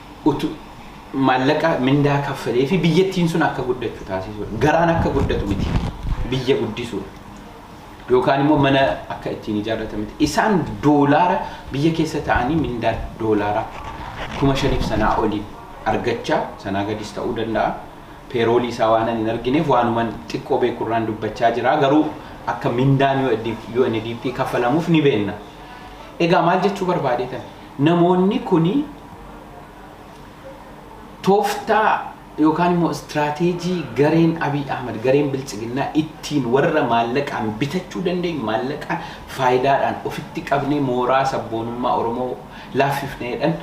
utu maallaqa mindaa kaffalee fi biyyattiin sun akka guddachu taasisuudha. Garaan akka guddatu miti. Biyya guddisuudha. Yookaan immoo mana akka ittiin ijaarratan miti. Isaan doolaara biyya keessa ta'anii mindaa doolaara kuma shaniif sanaa olii argachaa sanaa gadis ta'uu danda'a. Peeroolii isaa waanan hin argineef waanuman xiqqoo beekurraan dubbachaa jira. Garuu akka mindaan UNDP kaffalamuuf ni beenna. Egaa maal jechuu barbaadeetan? Namoonni kun tooftaa yookaan immoo istiraateejii gareen Abiy Ahmad, gareen Biltsiginnaa ittiin warra maallaqaan bitachuu dandeenyu, maallaqa faayidaadhaan ofitti qabnee mooraa sabboonummaa Oromoo laaffifna jedhan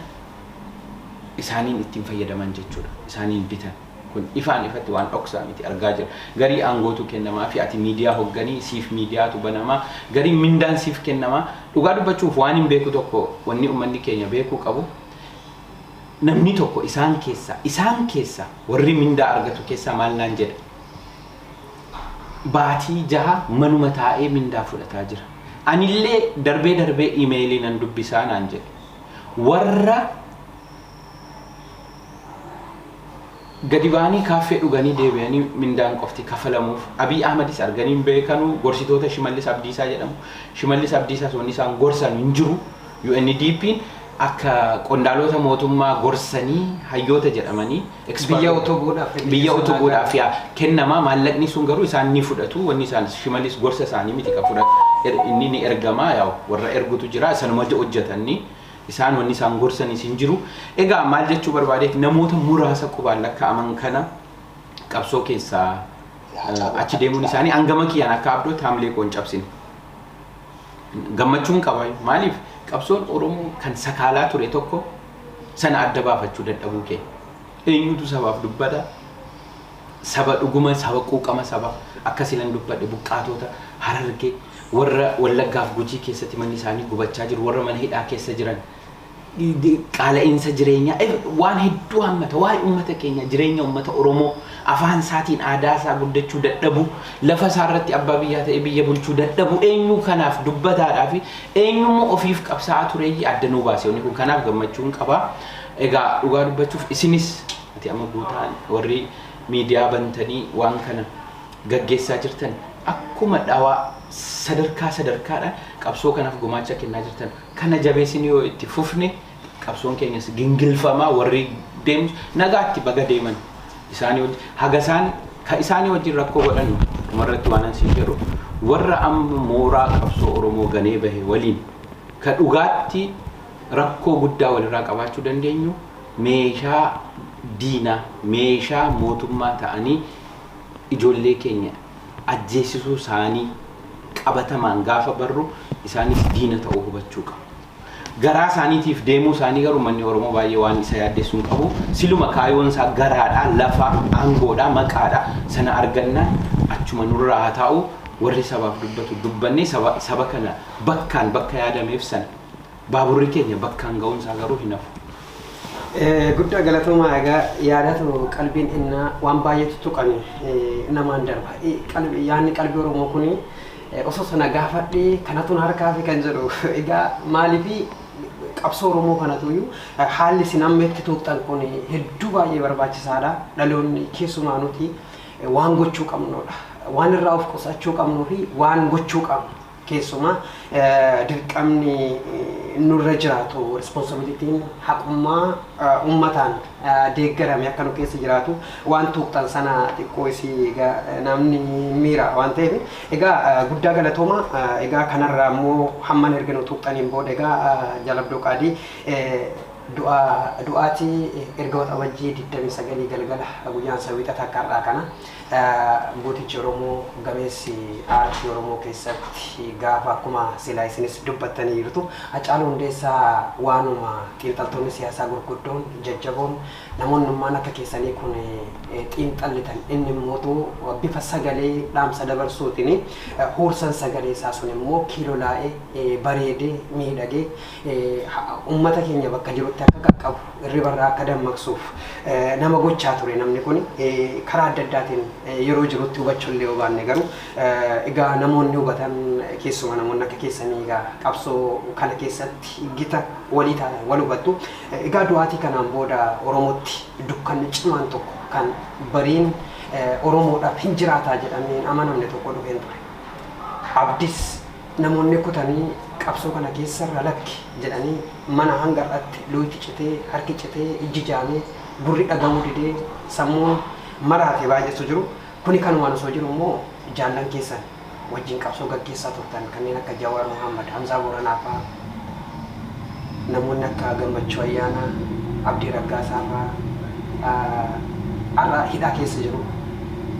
isaaniin ittiin fayyadaman jechuudha. Isaaniin bitan. Kun ifaan ifatti waan dhoksaa miti argaa jirra. Garii aangootu kennamaafii ati miidiyaa hogganii, siif miidiyaatu banamaa, garii mindaan siif kennamaa. Dhugaa dubbachuuf waanin beeku tokko wanni ummanni keenya beekuu qabu namni tokko isaan keessaa isaan keessaa warri mindaa argatu keessaa maal naan jedha baatii jaha manuma taa'ee mindaa fudhataa jira. Anillee darbee darbee imeelii nan dubbisaa naan jedhe. Warra Gadi ba'anii kaaffee dhuganii deebi'anii mindaan qofti kafalamuuf. Abiy Ahmadis arganii hin beekanu, gorsitoota Shimallis Abdiisaa jedhamu. Shimallis Abdiisaas wanni isaan gorsan hin jiru. UNDPn akka qondaaloota mootummaa gorsanii hayyoota jedhamanii expert Biyya utubuudhaaf fedhii biyya keessa utubuudhaaf naagaa. yaa kennama maallaqni sun garuu isaan ni fudhatu wanni isaan shimalis gorsa isaanii miti ka fudhatu Er- inni ni ergama yaa warra ergutu jira sanuma hojjetanni Isaan wanni isaan gorsanis hin jiru. Egaa maal jechuu barbaadeet namoota muraasa qubaan lakkaa'aman kana qabsoo keessaa achi deemuun isaanii hangama kiyyaan akka abdootti haamilee koo hin cabsine. Gammachuun qaba. Maaliif qabsoon Oromoo kan sakaalaa ture tokko sana adda baafachuu dadhabuu keenya. Eenyutu sabaaf dubbata? Saba dhuguma saba quuqama saba akka silan dubbadhe buqqaatoota harargee Warra Wallaggaa fi Gujii keessatti manni isaanii gubachaa jiru, warra mana hidhaa keessa jiran, qaala'iinsa jireenyaa, waan hedduu hammata. Waa'ee uummata keenyaa, jireenya uummata Oromoo, afaan isaatiin aadaa isaa guddachuu dadhabuu, lafa isaa irratti abbaa biyyaa ta'ee biyya bulchuu dadhabuu, eenyuu kanaaf dubbataadhaa fi eenyu immoo ofiif qabsaa'aa tureeyyi adda nuu baase wanni kun. Kanaaf gammachuun qaba. Egaa dhugaa dubbachuuf isinis ati amma Guutaan warri miidiyaa bantanii waan kana. gaggeessaa jirtan akkuma dhawaa sadarkaa sadarkaadhaan qabsoo kanaaf gumaacha kennaa jirtan kana jabeessinee yoo itti fufne qabsoon keenyas gingilfamaa warri deemus nagaatti baga deeman isaanii wajji haga isaan ka isaanii wajjin rakkoo godhannu dhumarratti waanan siin jedhu warra amma mooraa qabsoo Oromoo ganee bahe waliin ka dhugaatti rakkoo guddaa walirraa qabaachuu dandeenyu meeshaa diinaa meeshaa mootummaa ta'anii ijoollee keenya ajjeesisuu isaanii qabatamaan gaafa barru isaanis diina ta'uu hubachuu qabna. Garaa isaaniitiif deemuu isaanii garuu ummanni Oromoo baay'ee waan isa yaaddessu hin qabu. Siluma kaayoon isaa garaadha, lafa, aangoodha, maqaadha. Sana argannaan achuma nurraa haa taa'u. Warri sabaaf dubbatu dubbannee saba kana bakkaan bakka yaadameef sana. Baaburri keenya bakkaan ga'uun isaa garuu hin hafu. Guddaa galatoomaa egaa yaadatu qalbiin innaa waan baay'eetu tuqame namaan darba. Qalbi yaanni qalbii Oromoo kun osoo sana gaafadhee kanatu na harkaa fi kan jedhu egaa maaliifi qabsoo Oromoo kanatu iyyuu haalli isin amma itti tuuqxan kun hedduu baay'ee barbaachisaadha. Dhaloonni keessumaa nuti waan gochuu qabnudha. Waan irraa of qusachuu qabnuu fi waan gochuu qabnu. Keessumaa dirqamni nurra jiraatu, responsibility'n, haqummaa ummataan deeggarame akka nu keessa jiraatu waan tuuqxan sana xiqqoo isii egaa namni hin miira waan ta'eef. Egaa guddaa galatooma. Egaa kanarraa immoo hammana erga nu tuuqxaniin booda egaa Jaal Abdoo Qaadii du'a du'aati erga Waxabajjii 29 galgala guyyaan isaa Wiixata akka har'aa kana Gootichi Oromoo gameessi aartii Oromoo keessatti gaafa akkuma silaa isinis dubbattaniirtu Hacaaluu Hundeessaa waanuma xiinxaltoonni siyaasaa gurguddoon, jajjaboon, namoonnummaan akka keessanii kun xiinxallitan inni immootu bifa sagalee dhaamsa dabarsuutiin huursan sagalee isaa sun immoo kiilolaa'ee, bareedee, miidhagee Ummata keenya bakka jirutti akka qaqqabu, irriba irraa akka dammaqsuuf nama gochaa ture namni kun. Karaa adda addaatiin yeroo jirutti hubachuu illee yoo baanne garuu egaa namoonni hubatan keessumaa namoonni akka keessanii egaa qabsoo kana keessatti gita walii taatan wal hubattu. Egaa du'aatii kanaan booda Oromootti dukkanni cimaan tokko kan bariin Oromoodhaaf hin jiraataa jedhamee hin amanamne tokko dhufeen ture. Abdis Namoonni kutanii qabsoo kana keessarra lakki jedhanii mana hanga har'atti luuyti citee, harki citee, ijji jaamee, gurri dhagahuu didee, sammuun maraate baay'eetu jiru. Kuni kanumaan osoo jiru immoo jaallan keessan wajjin qabsoo gaggeessaa turtan kanneen akka Jawaar Mohaammad, Hamzaa Booranaa faa, Namoonni akka Gammachuu Ayyaanaa, Abdii Raggaasaa faa har'a hidhaa keessa jiru.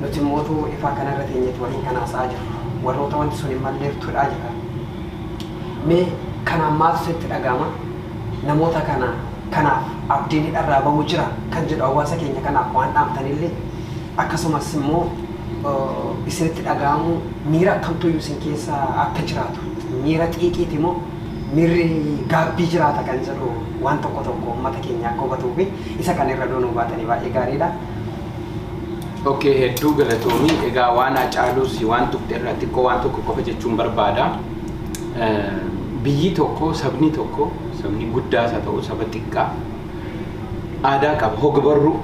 Nuti immoo utuu ifaa kana irra teenyeeti waliin kan haasa'aa jirru. Warroota wanti sun hin malleeftu hidhaa jirra. Mee kanaan maaltu sitti dhaga'ama? Namoota kana kanaaf abdiin hidharraa ba'uu jira kan jedhu hawaasa keenya kanaaf waan dhaamtan illee akkasumas immoo isinitti dhaga'amu miira akkamtuyyuu isin keessa akka jiraatu miira xiiqiiti moo miirri gaabbii jiraata kan jedhu waan tokko tokko uummata keenya akka hubatuu fi isa kana irra doonuu baatanii baay'ee gaariidha. Okay, hedduu galatoomi. Egaa waan Hacaaluus waan tuqxe irraa xiqqoo waan tokko qofa jechuun barbaada. Eh, Biyyi tokko, sabni tokko, sabni guddaas haa ta'u, saba xiqqaa, aadaa qaba. Hogbarruu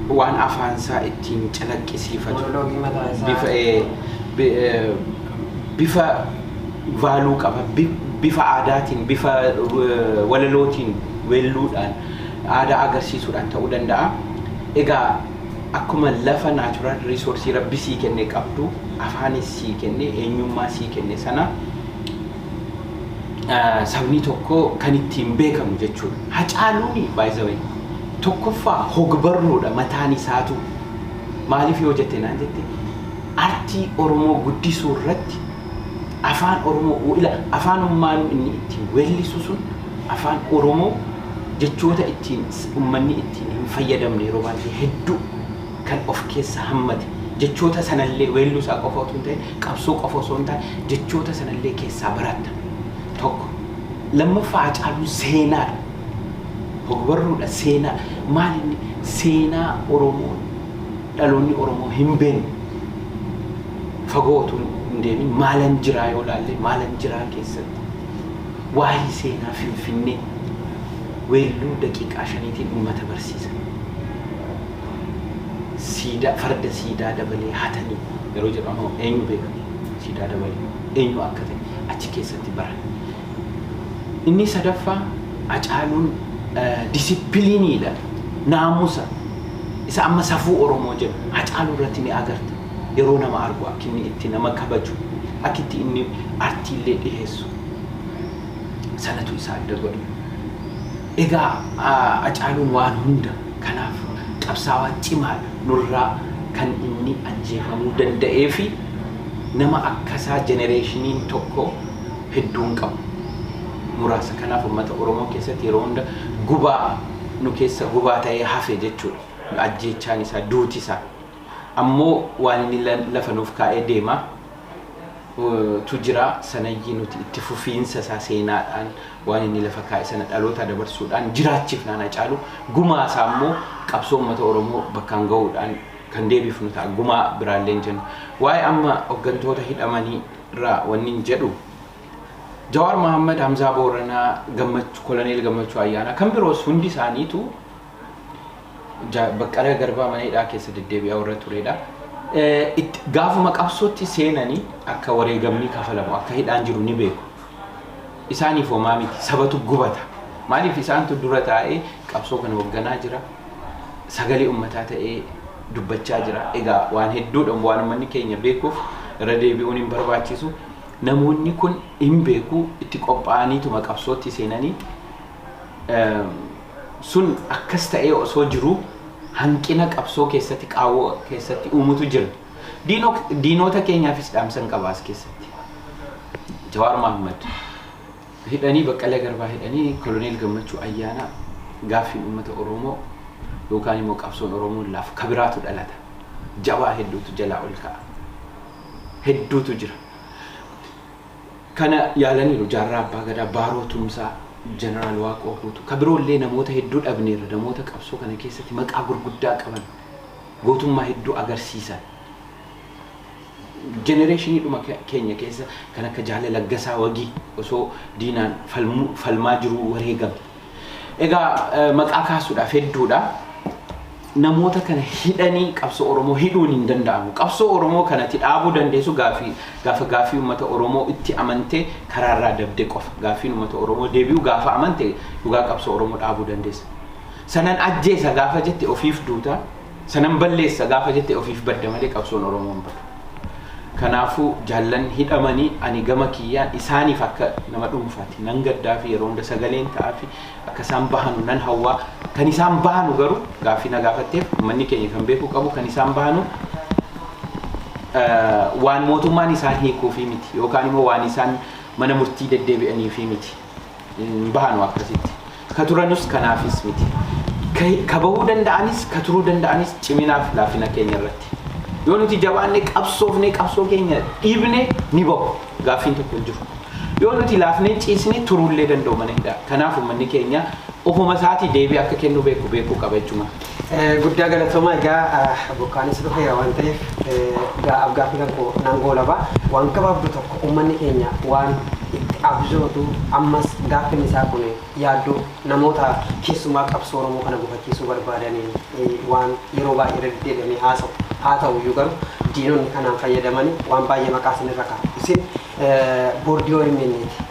waan afaansaa ittiin calaqqisiifatu. Monoloogii mataa isaa. Bifa, ee, bi- ee, bifa vaaluu qaba. Bi- Bifa aadaatiin, bifa ee, walalootiin, weelluudhaan, aadaa agarsiisuudhaan ta'uu danda'a. Egaa akkuma lafa naachuraal riisoorsii rabbi sii kenne qabdu, afaanis sii kenne, eenyummaa sii kenne sana sabni tokko kan ittiin beekamu jechuudha. Hacaaluun by the way tokkoffaa hogbarruudha mataan isaatu maaliif yoo jette naan jette artii Oromoo guddisuu irratti afaan Oromoo ila afaan ummaanuu inni ittiin weellisu sun afaan Oromoo jechoota ittiin ummanni ittiin hin fayyadamne yeroo baay'ee hedduu kan of keessa hammate jechoota sanallee weelluu isaa qofa utuu hin ta'in Qabsoo qofa osoo hin taane jechoota sana illee keessaa baratta. Tokko. Lammaffaa Haacaaluun seenaadha. Hogbarruudha, seenaa. Maal inni seenaa Oromoo dhaloonni Oromoo hin beekne fagoo utuu hin deemin maalan jiraa yoo ilaalle maalan jiraa keessatti waa'ee seenaa Finfinnee weelluu daqiiqaa shaniitiin uummata barsiisa. siidaa farda siidaa dabalee hatanii yeroo jedhamu eenyu beeka mee siidaa dabalee eenyu akka ta'e achi keessatti baranna. Inni sadaffaa Hacaaluun disipiliiniidha naamusa isa amma safuu Oromoo jennu Hacaaluu irratti ni agarta yeroo nama argu akki inni itti nama kabaju akki itti inni artii illee dhiheessu sanatu isa adda godha. Egaa Hacaaluun waan hunda kanaaf qabsaawaa cimaadha. Nurraa kan inni ajjeefamuu danda'eefi nama akkasaa jenereeshiniin tokko hedduu hin qabu. Muraasa kanaaf ummata Oromoo keessatti yeroo hunda gubaa nu keessa gubaa ta'ee hafe jechuudha. Ajjeechaan isaa, duuti isaa ammoo waan inni lafa nuuf kaa'ee deema. tu jira. Sanayyii nuti itti fufiinsa isaa seenaadhaan waan inni lafa kaa'e sana dhalootaa dabarsuudhaan jiraachifnaan Hacaaluu gumaa isaa immoo qabsoo uummata Oromoo bakkaan ga'uudhaan kan deebifnu ta'a. Gumaa biraallee hin jennu. Waa'ee amma hoggantoota hidhamanii irraa wannin jedhu Jawaar Mahaammad, Hamzaa Booranaa, Gammachu, Koloneel Gammachuu Ayyaanaa kan biroos hundi isaaniitu Jaal Baqqala Garbaa mana hidhaa keessa deddeebi'aa warra turedha. Gaafuma qabsootti seenanii akka wareegamni kafalamu akka hidhaan jiru ni beeku. Isaaniif homaa miti sabatu gubata. Maaliif isaantu dura taa'ee qabsoo kana hoogganaa jira. Sagalee ummataa ta'ee dubbachaa jira. Egaa waan hedduudha waan ummanni keenya beekuuf irra deebi'uun hin barbaachisu. Namoonni kun hin beeku itti qophaa'aniituma qabsootti seenanii Sun akkas ta'ee osoo jiruu hanqina qabsoo keessatti qaawwa keessatti uumutu jira. Diinok diinoota keenyaafis dhaamsan qaba as keessatti. Jawaar Mahaammad hidhanii Baqqalee Garbaa hidhanii Koloneel Gammachuu Ayyaanaa gaaffiin uummata Oromoo yookaan immoo qabsoon Oromoon laafu ka biraatu dhalata. Jabaa hedduutu jalaa ol ka'a. Hedduutu jira. Kana yaalaniiru Jaarraa Abbaa Gadaa, Baaroo Tumsaa, Jeneraal Waaqoo Guutuu, ka biroollee namoota hedduu dhabneerra, namoota qabsoo kana keessatti maqaa gurguddaa qaban, gootummaa hedduu agarsiisan. Jenereeshiniidhuma keenya keessa kan akka Jaala Laggasaa Wagii osoo diinaan falmaa jiruu wareegame. Egaa maqaa kaasuudhaaf hedduudha. Namoota kana hidhanii qabsoo Oromoo hidhuun hin danda'amu. Qabsoo Oromoo kanatti dhaabuu dandeessu gaafii gaafa gaafii uummata Oromoo itti amantee karaarraa dabde qofa. Gaafiin uummata Oromoo deebi'u gaafa amante dhugaa qabsoo Oromoo dhaabuu dandeessa. Sanan ajjeesa gaafa jette ofiif duuta Sanan balleessa gaafa jette ofiif badda malee qabsoon Oromoo hin badu. Kanaafuu jaallan hidhamanii ani gama kiyyaan isaaniif akka nama dhuunfaati nan gaddaa fi yeroo hunda sagaleen ta'aa fi akka isaan bahanu nan hawwaa. Kan isaan bahanu garuu gaaffii na gaafatteef ummanni keenya kan beekuu qabu kan isaan bahanu waan mootummaan isaan hiikuufii miti yookaan immoo waan isaan mana murtii deddeebi'aniifii miti. hin bahanu akkasitti. Ka turanus kanaafis miti. Ka, ka bahuu danda'anis, ka turuu danda'anis ciminaaf laafina keenya irratti. Yoo nuti jabaanne qabsoofne qabsoo keenya dhiibne ni bahu. Gaaffiin tokko hin jiru. Yoo nuti laafnee ciisne turuullee danda'u mana hidhaa. Kanaaf ummanni keenya ofuma isaatii deebii akka kennuu beeku beekuu qaba jechuma. Guddaa galatoomaa egaa bokkaanis dhufeera waan ta'eef egaa afgaaffii kan koo nan goolaba waan gabaabdu tokko uummanni keenya waan itti abjootu ammas gaaffiin isaa kun yaaddoo namoota keessumaa qabsoo Oromoo kana gufachiisuu barbaadanii waan yeroo baay'ee irra deddeebi'amee haasa'u haa ta'u iyyuu garuu diinonni kanaan fayyadamanii waan baay'ee maqaa isin irra kaa'u isin boordii OMN ti.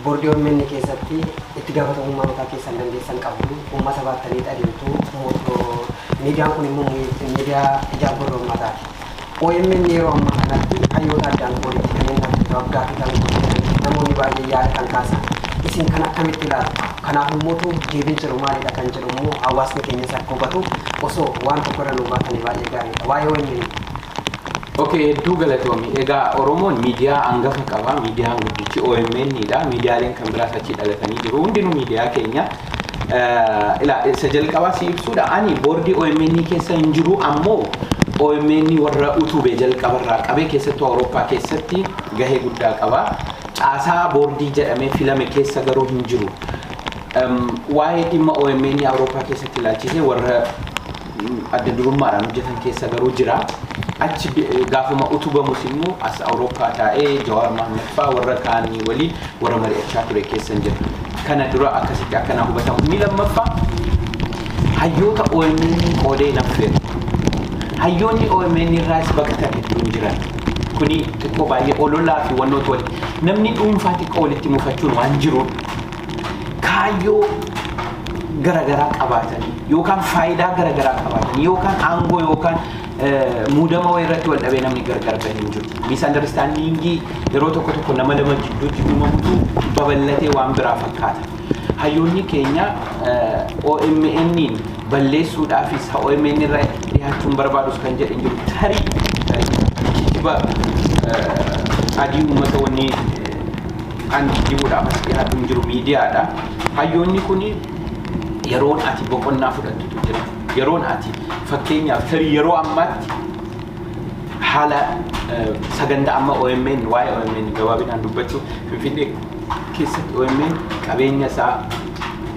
Boordii omn keessatti itti gaafatamummaa mataa keessan dandeessan qabdu, uummata baattaniit adeemtu, miidiyaan kun immoo miidiyaa ijaaf gurra uummataati. Omn yeroo ammaa kanatti hayyoota addaan qooditi kan inni argatu, af-gaaffii kan gaggeessaniif namoonni baay'een yaada kan kaasan. Isin kana akkamitti ilaaltu? Kanaaf immoo deebiin jiru maalidha kan jedhu immoo hawaasni keenyas akka hubatu osoo waan tokko irra nuu baatanii baay'ee gaariidha. Waa'ee omn. Okay, hedduu galatoomi. Egaa Oromoon miidiyaa hangafa qaba. Miidiyaan guddichi OMN dha. Miidiyaaleen kan biraas achi dhalatanii jiru. Hundinuu miidiyaa keenya. Eh, Ilaa, isa jalqabaa si ibsuudha. Ani boordii OMN keessa hin jiru ammoo OMN warra utube jalqabarraa qabee keessattuu Awurooppaa keessatti gahee guddaa qaba. Caasaa boordii jedhamee filame keessa garuu hin jiru. Em, Waa'ee dhimma OMN Awurooppaa keessatti ilaalchisee warra adda durummaadhaan hojjetan keessa garuu jira. Achi gaafuma utubamus immoo as Awurooppaa taa'ee Jawaar Mahaammad fa'aa warra kaanii waliin warra mari'achaa ture keessan jira. Kana dura akkasitti akka naa hubatamu. Inni lammaffaa hayyoota OMN qoodee hin affeeru. Hayyoonni OMN irraas baqatan hedduun jiran. Kuni xiqqoo baay'ee ololaa fi wannootu walitti namni dhuunfaa xiqqoo walitti mufachuun waan jiruudha. kaayyoo garagaraa qabaatanii yookaan faayidaa garagaraa qabaatanii yookaan aangoo yookaan muudama wayii irratti wal dhabee namni gargar bahe hin jiru. Miisandaristandingii yeroo tokko tokko nama lama gidduutti uumamutu babal'atee waan biraa fakkaata. Hayyoonni keenya OMN'n balleessuudhaafis OMN irra dhihaachuun barbaadus kan jedhe hin jiru. Tarii kijiba adii uummata wanni Kan kijjibuudhaaf as dhiyaatu hin jiru miidiyaadha. Hayyoonni kun yeroon ati boqonnaa fudhattutu jira. Yeroon ati fakkeenyaaf tarii yeroo ammaatti haala sagantaa amma OMN waa'ee OMN gabaabinaan dubbachuu Finfinnee keessatti OMN qabeenya isaa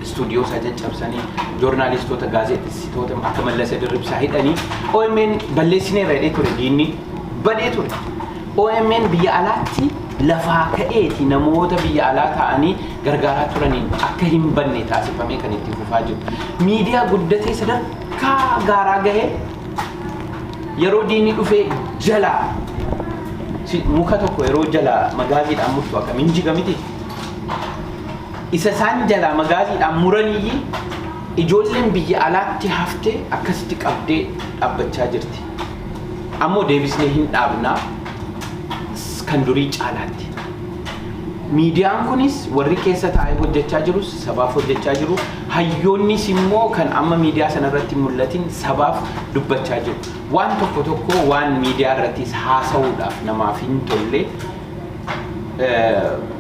istuudiyoo isaa caccabsanii joornaalistoota gaazexessitoota akka Mallasa Dirribsaa hidhanii OMN balleessineerra jedhee ture diinni badee ture. OMN biyya alaatti lafaa ka'eeti namoota biyya alaa ta'anii gargaaraa turaniin akka hin banne taasifamee kan itti fufaa jiru. Miidiyaa guddatee sadarkaa gaaraa gahee yeroo diinni dhufee jalaa si- muka tokko yeroo jalaa magaaziidhaan murtu akkamiin jiga miti. Isa isaan jalaa magaaziidhaan muraniyyii ijoolleen biyya alaatti haftee akkasitti qabdee dhabbachaa jirti. Ammoo deebisnee hin dhaabna kan durii caalaatti. Miidiyaan kunis warri keessa taa'ee hojjechaa jirus sabaaf hojjechaa jiru. Hayyoonnis immoo kan amma miidiyaa sana irratti mul'atin sabaaf dubbachaa jiru. Waan tokko tokko waan miidiyaa irrattis haasa'uudhaaf namaaf hin tolle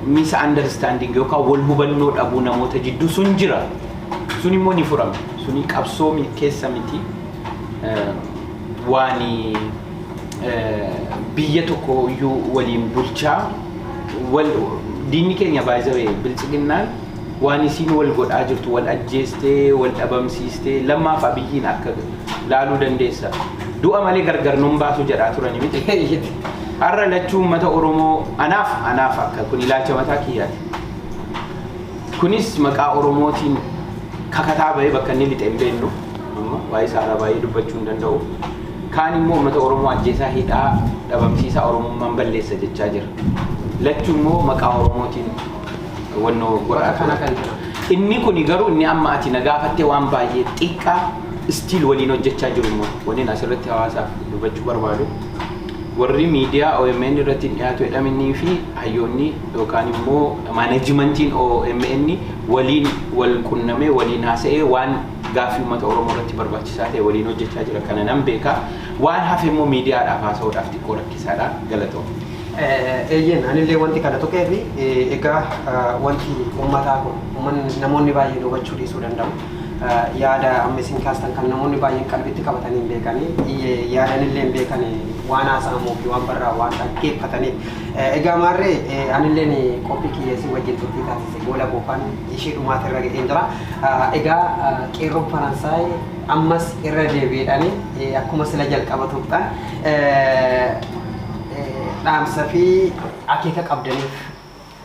misa understanding yookaan wal hubannoo dhabuu namoota jidduu sun jira. Sun immoo ni furama. Suni qabsoo keessa miti. waan biyya tokko iyyuu waliin bulchaa wal diinni keenya baay'ee bilchiginnaan waan isiin wal godhaa jirtu wal ajjeestee wal dhabamsiistee lammaaf abiyyiin akka laaluu dandeessa du'a malee gargar nun baasu jedhaa turani miti har'a lachuu uummata oromoo anaaf anaaf akka kun ilaalcha mataa kiyyaati kunis maqaa oromootiin kakataa bahee bakka inni lixe hin beeknu amma waa'ee isaarraa baay'ee dubbachuu hin danda'u. Kaan immoo uummata Oromoo ajjeesaa hidhaa dhabamsiisaa Oromummaan balleessa jechaa jira. Lachuu immoo maqaa Oromootiin wannoo godhaa kana kan jira. Inni kuni garuu inni amma ati na gaafattee waan baay'ee xiqqaa istiil waliin hojjechaa jiru immoo waliin asirratti hawaasaaf dubbachuu barbaadu. Warri miidiyaa OMN irratti dhiyaatu jedhaminii fi hayyoonni yookaan immoo maanejimentiin OMN waliin wal qunnamee, waliin haasa'ee waan gaaffii uummata Oromoo irratti barbaachisaa ta'e waliin hojjechaa jira. Kana nan beeka. Waan hafe immoo miidiyaadhaaf haasa'uudhaaf xiqqoo rakkisaadha. Galatoomi. Eeyyeen anillee wanti kana tuqeef egaa wanti uummataa kun uummanni namoonni baay'een hubachuu dhiisuu danda'u. Yaada amma isin kaastan kan namoonni baay'een qalbitti qabatanii hin beekani. Yaadanillee hin beekani waan haasa'amuu fi waan barraa'u waan dhaggeeffataniif. Egaa maarree anilleen qophii kiyya isin wajjin turtii taasisa. Gola Goofan ishee dhumaati irra ga'een jira. Egaa qeerroon Faransaay ammas irra deebi'eedhaan akkuma sila jalqaba tuqxan dhaamsa fi akeeka qabdaniif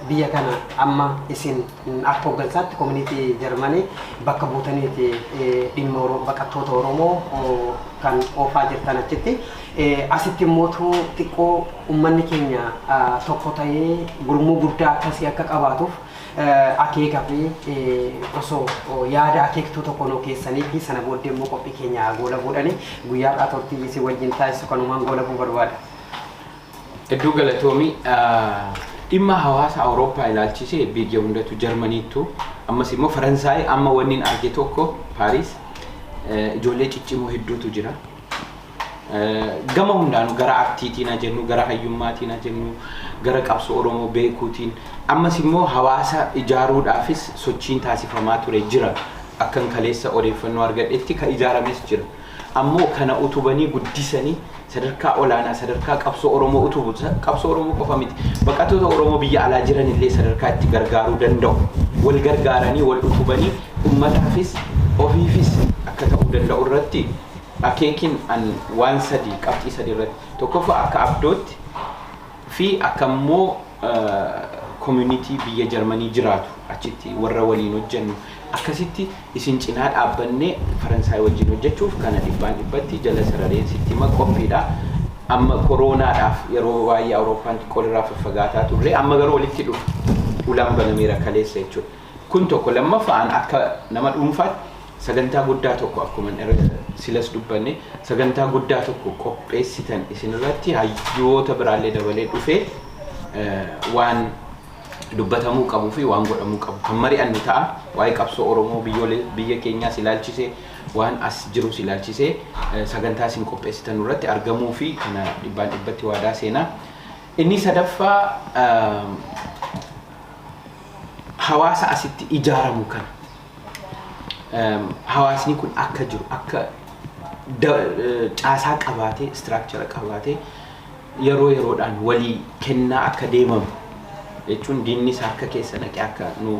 biyya kana amma isin akka hooggansaatti koominiitii Jarmanii bakka buutaniiti dhimma baqattoota Oromoo kan oofaa jirtan achitti. Asitti immoo too xiqqoo ummanni keenya tokko ta'ee gurmuu guddaa akkasii akka qabaatuuf akeeka fi osoo yaada akeektuu tokko nuu keessanii fi sana booddee immoo qophii keenya goola buudhani guyyaa har'aa turtii isin wajjin taasisu kanumaan goola buu barbaada. Hedduu galatoomi. Dhimma hawaasa Awurooppaa ilaalchisee biyya hundatu Jarmaniittu ammas immoo Faransaay amma wanni arge tokko Paariis ijoollee ciccimoo hedduutu jira. gama hundaanu gara artiitiin haa jennu, gara hayyummaatiin haa jennu, gara qabsoo Oromoo beekuutiin ammas immoo hawaasa ijaaruudhaafis sochiin taasifamaa ture jira. Akkan kaleessa odeeffannoo argadhetti ka ijaarames jira. Ammoo kana utubanii guddisanii sadarkaa olaanaa sadarkaa qabsoo Oromoo utubu qabsoo Oromoo qofa miti. Baqattoota Oromoo biyya alaa jiran illee sadarkaa itti gargaaruu danda'u. Wal gargaaranii wal utubanii ummataafis ofiifis akka ta'uu danda'u irratti akeekin an waan sadii qabxii sadii irratti tokkoffaa akka abdootti fi akka immoo community biyya jarmanii jiraatu achitti warra waliin hojjennu akkasitti isin cinaa dhaabbanne faransaay wajjin hojjechuuf kana dhibbaan dhibbatti jala sarareen sitti hima qophiidha amma koroonaadhaaf yeroo baay'ee awurooppaan xiqqoo irraa faffagaataa turre amma garuu walitti dhufu ulaan banameera kaleessa jechuudha Kun tokko. Lammaffaan akka nama dhuunfaatti sagantaa guddaa tokko akkuman irra silas dubbanne sagantaa guddaa tokko qopheessitan isinirratti hayyoota biraallee dabalee dhufee waan dubbatamuu qabuu fi waan godhamuu qabu kan mari'annu ta'a. Waa'ee qabsoo Oromoo biyya keenyaas ilaalchisee waan as jirus ilaalchisee sagantaa isin qopheessitan irratti argamuu fi kana dhibbaan dhibbatti waadaa seenaa. Inni sadaffaa hawaasa asitti ijaaramu kana hawaasni kun akka jiru akka caasaa qabaatee istiraakchara qabaatee yeroo yeroodhaan walii kennaa akka deemamu jechuun diinnis harka keessa naqee akka nu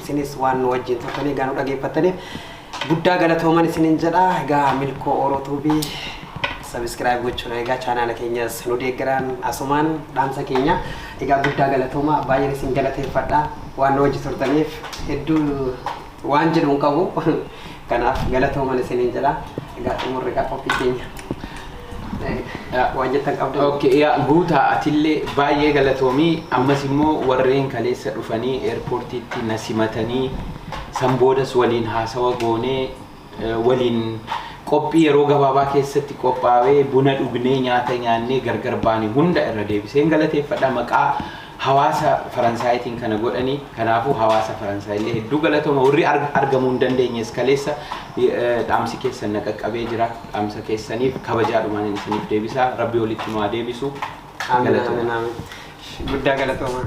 Isinis waan nu wajjin turtanii egaa nu dhageeffattaniif guddaa galatooman isinin jedha. Egaa Milkoo Oro Tube subscribe gochuun egaa chaanaala keenyas nu deeggaraan asumaan dhaamsa keenya. Egaa guddaa galatooma baay'een isin galateeffadha waan nu wajji turtaniif hedduu waan jedhu hin qabu. Kanaaf galatooman isiniin jedha. Egaa xumurri egaa qophii keenya. Eh, Waan jettan qabdu. Okay, yaa guutaa atillee baay'ee galatoomii ammas immoo warreen kaleessa dhufanii eerpoortiitti na simatanii san boodas waliin haasawa goonee eh, waliin qophii yeroo gabaabaa keessatti qophaa'ee buna dhugnee nyaata nyaannee gargar baane hunda irra deebiseen galateeffadha maqaa hawaasa faransaayitiin kana godhanii kanaafuu hawaasa faransaayillee hedduu galatoma warri argamuu hin dandeenyes kaleessa dhaamsi keessan na qaqqabee jira dhaamsa keessaniif kabajaadhumaan isiniif deebisaa rabbi walitti nu haa deebisu galatoma guddaa galatoomaa.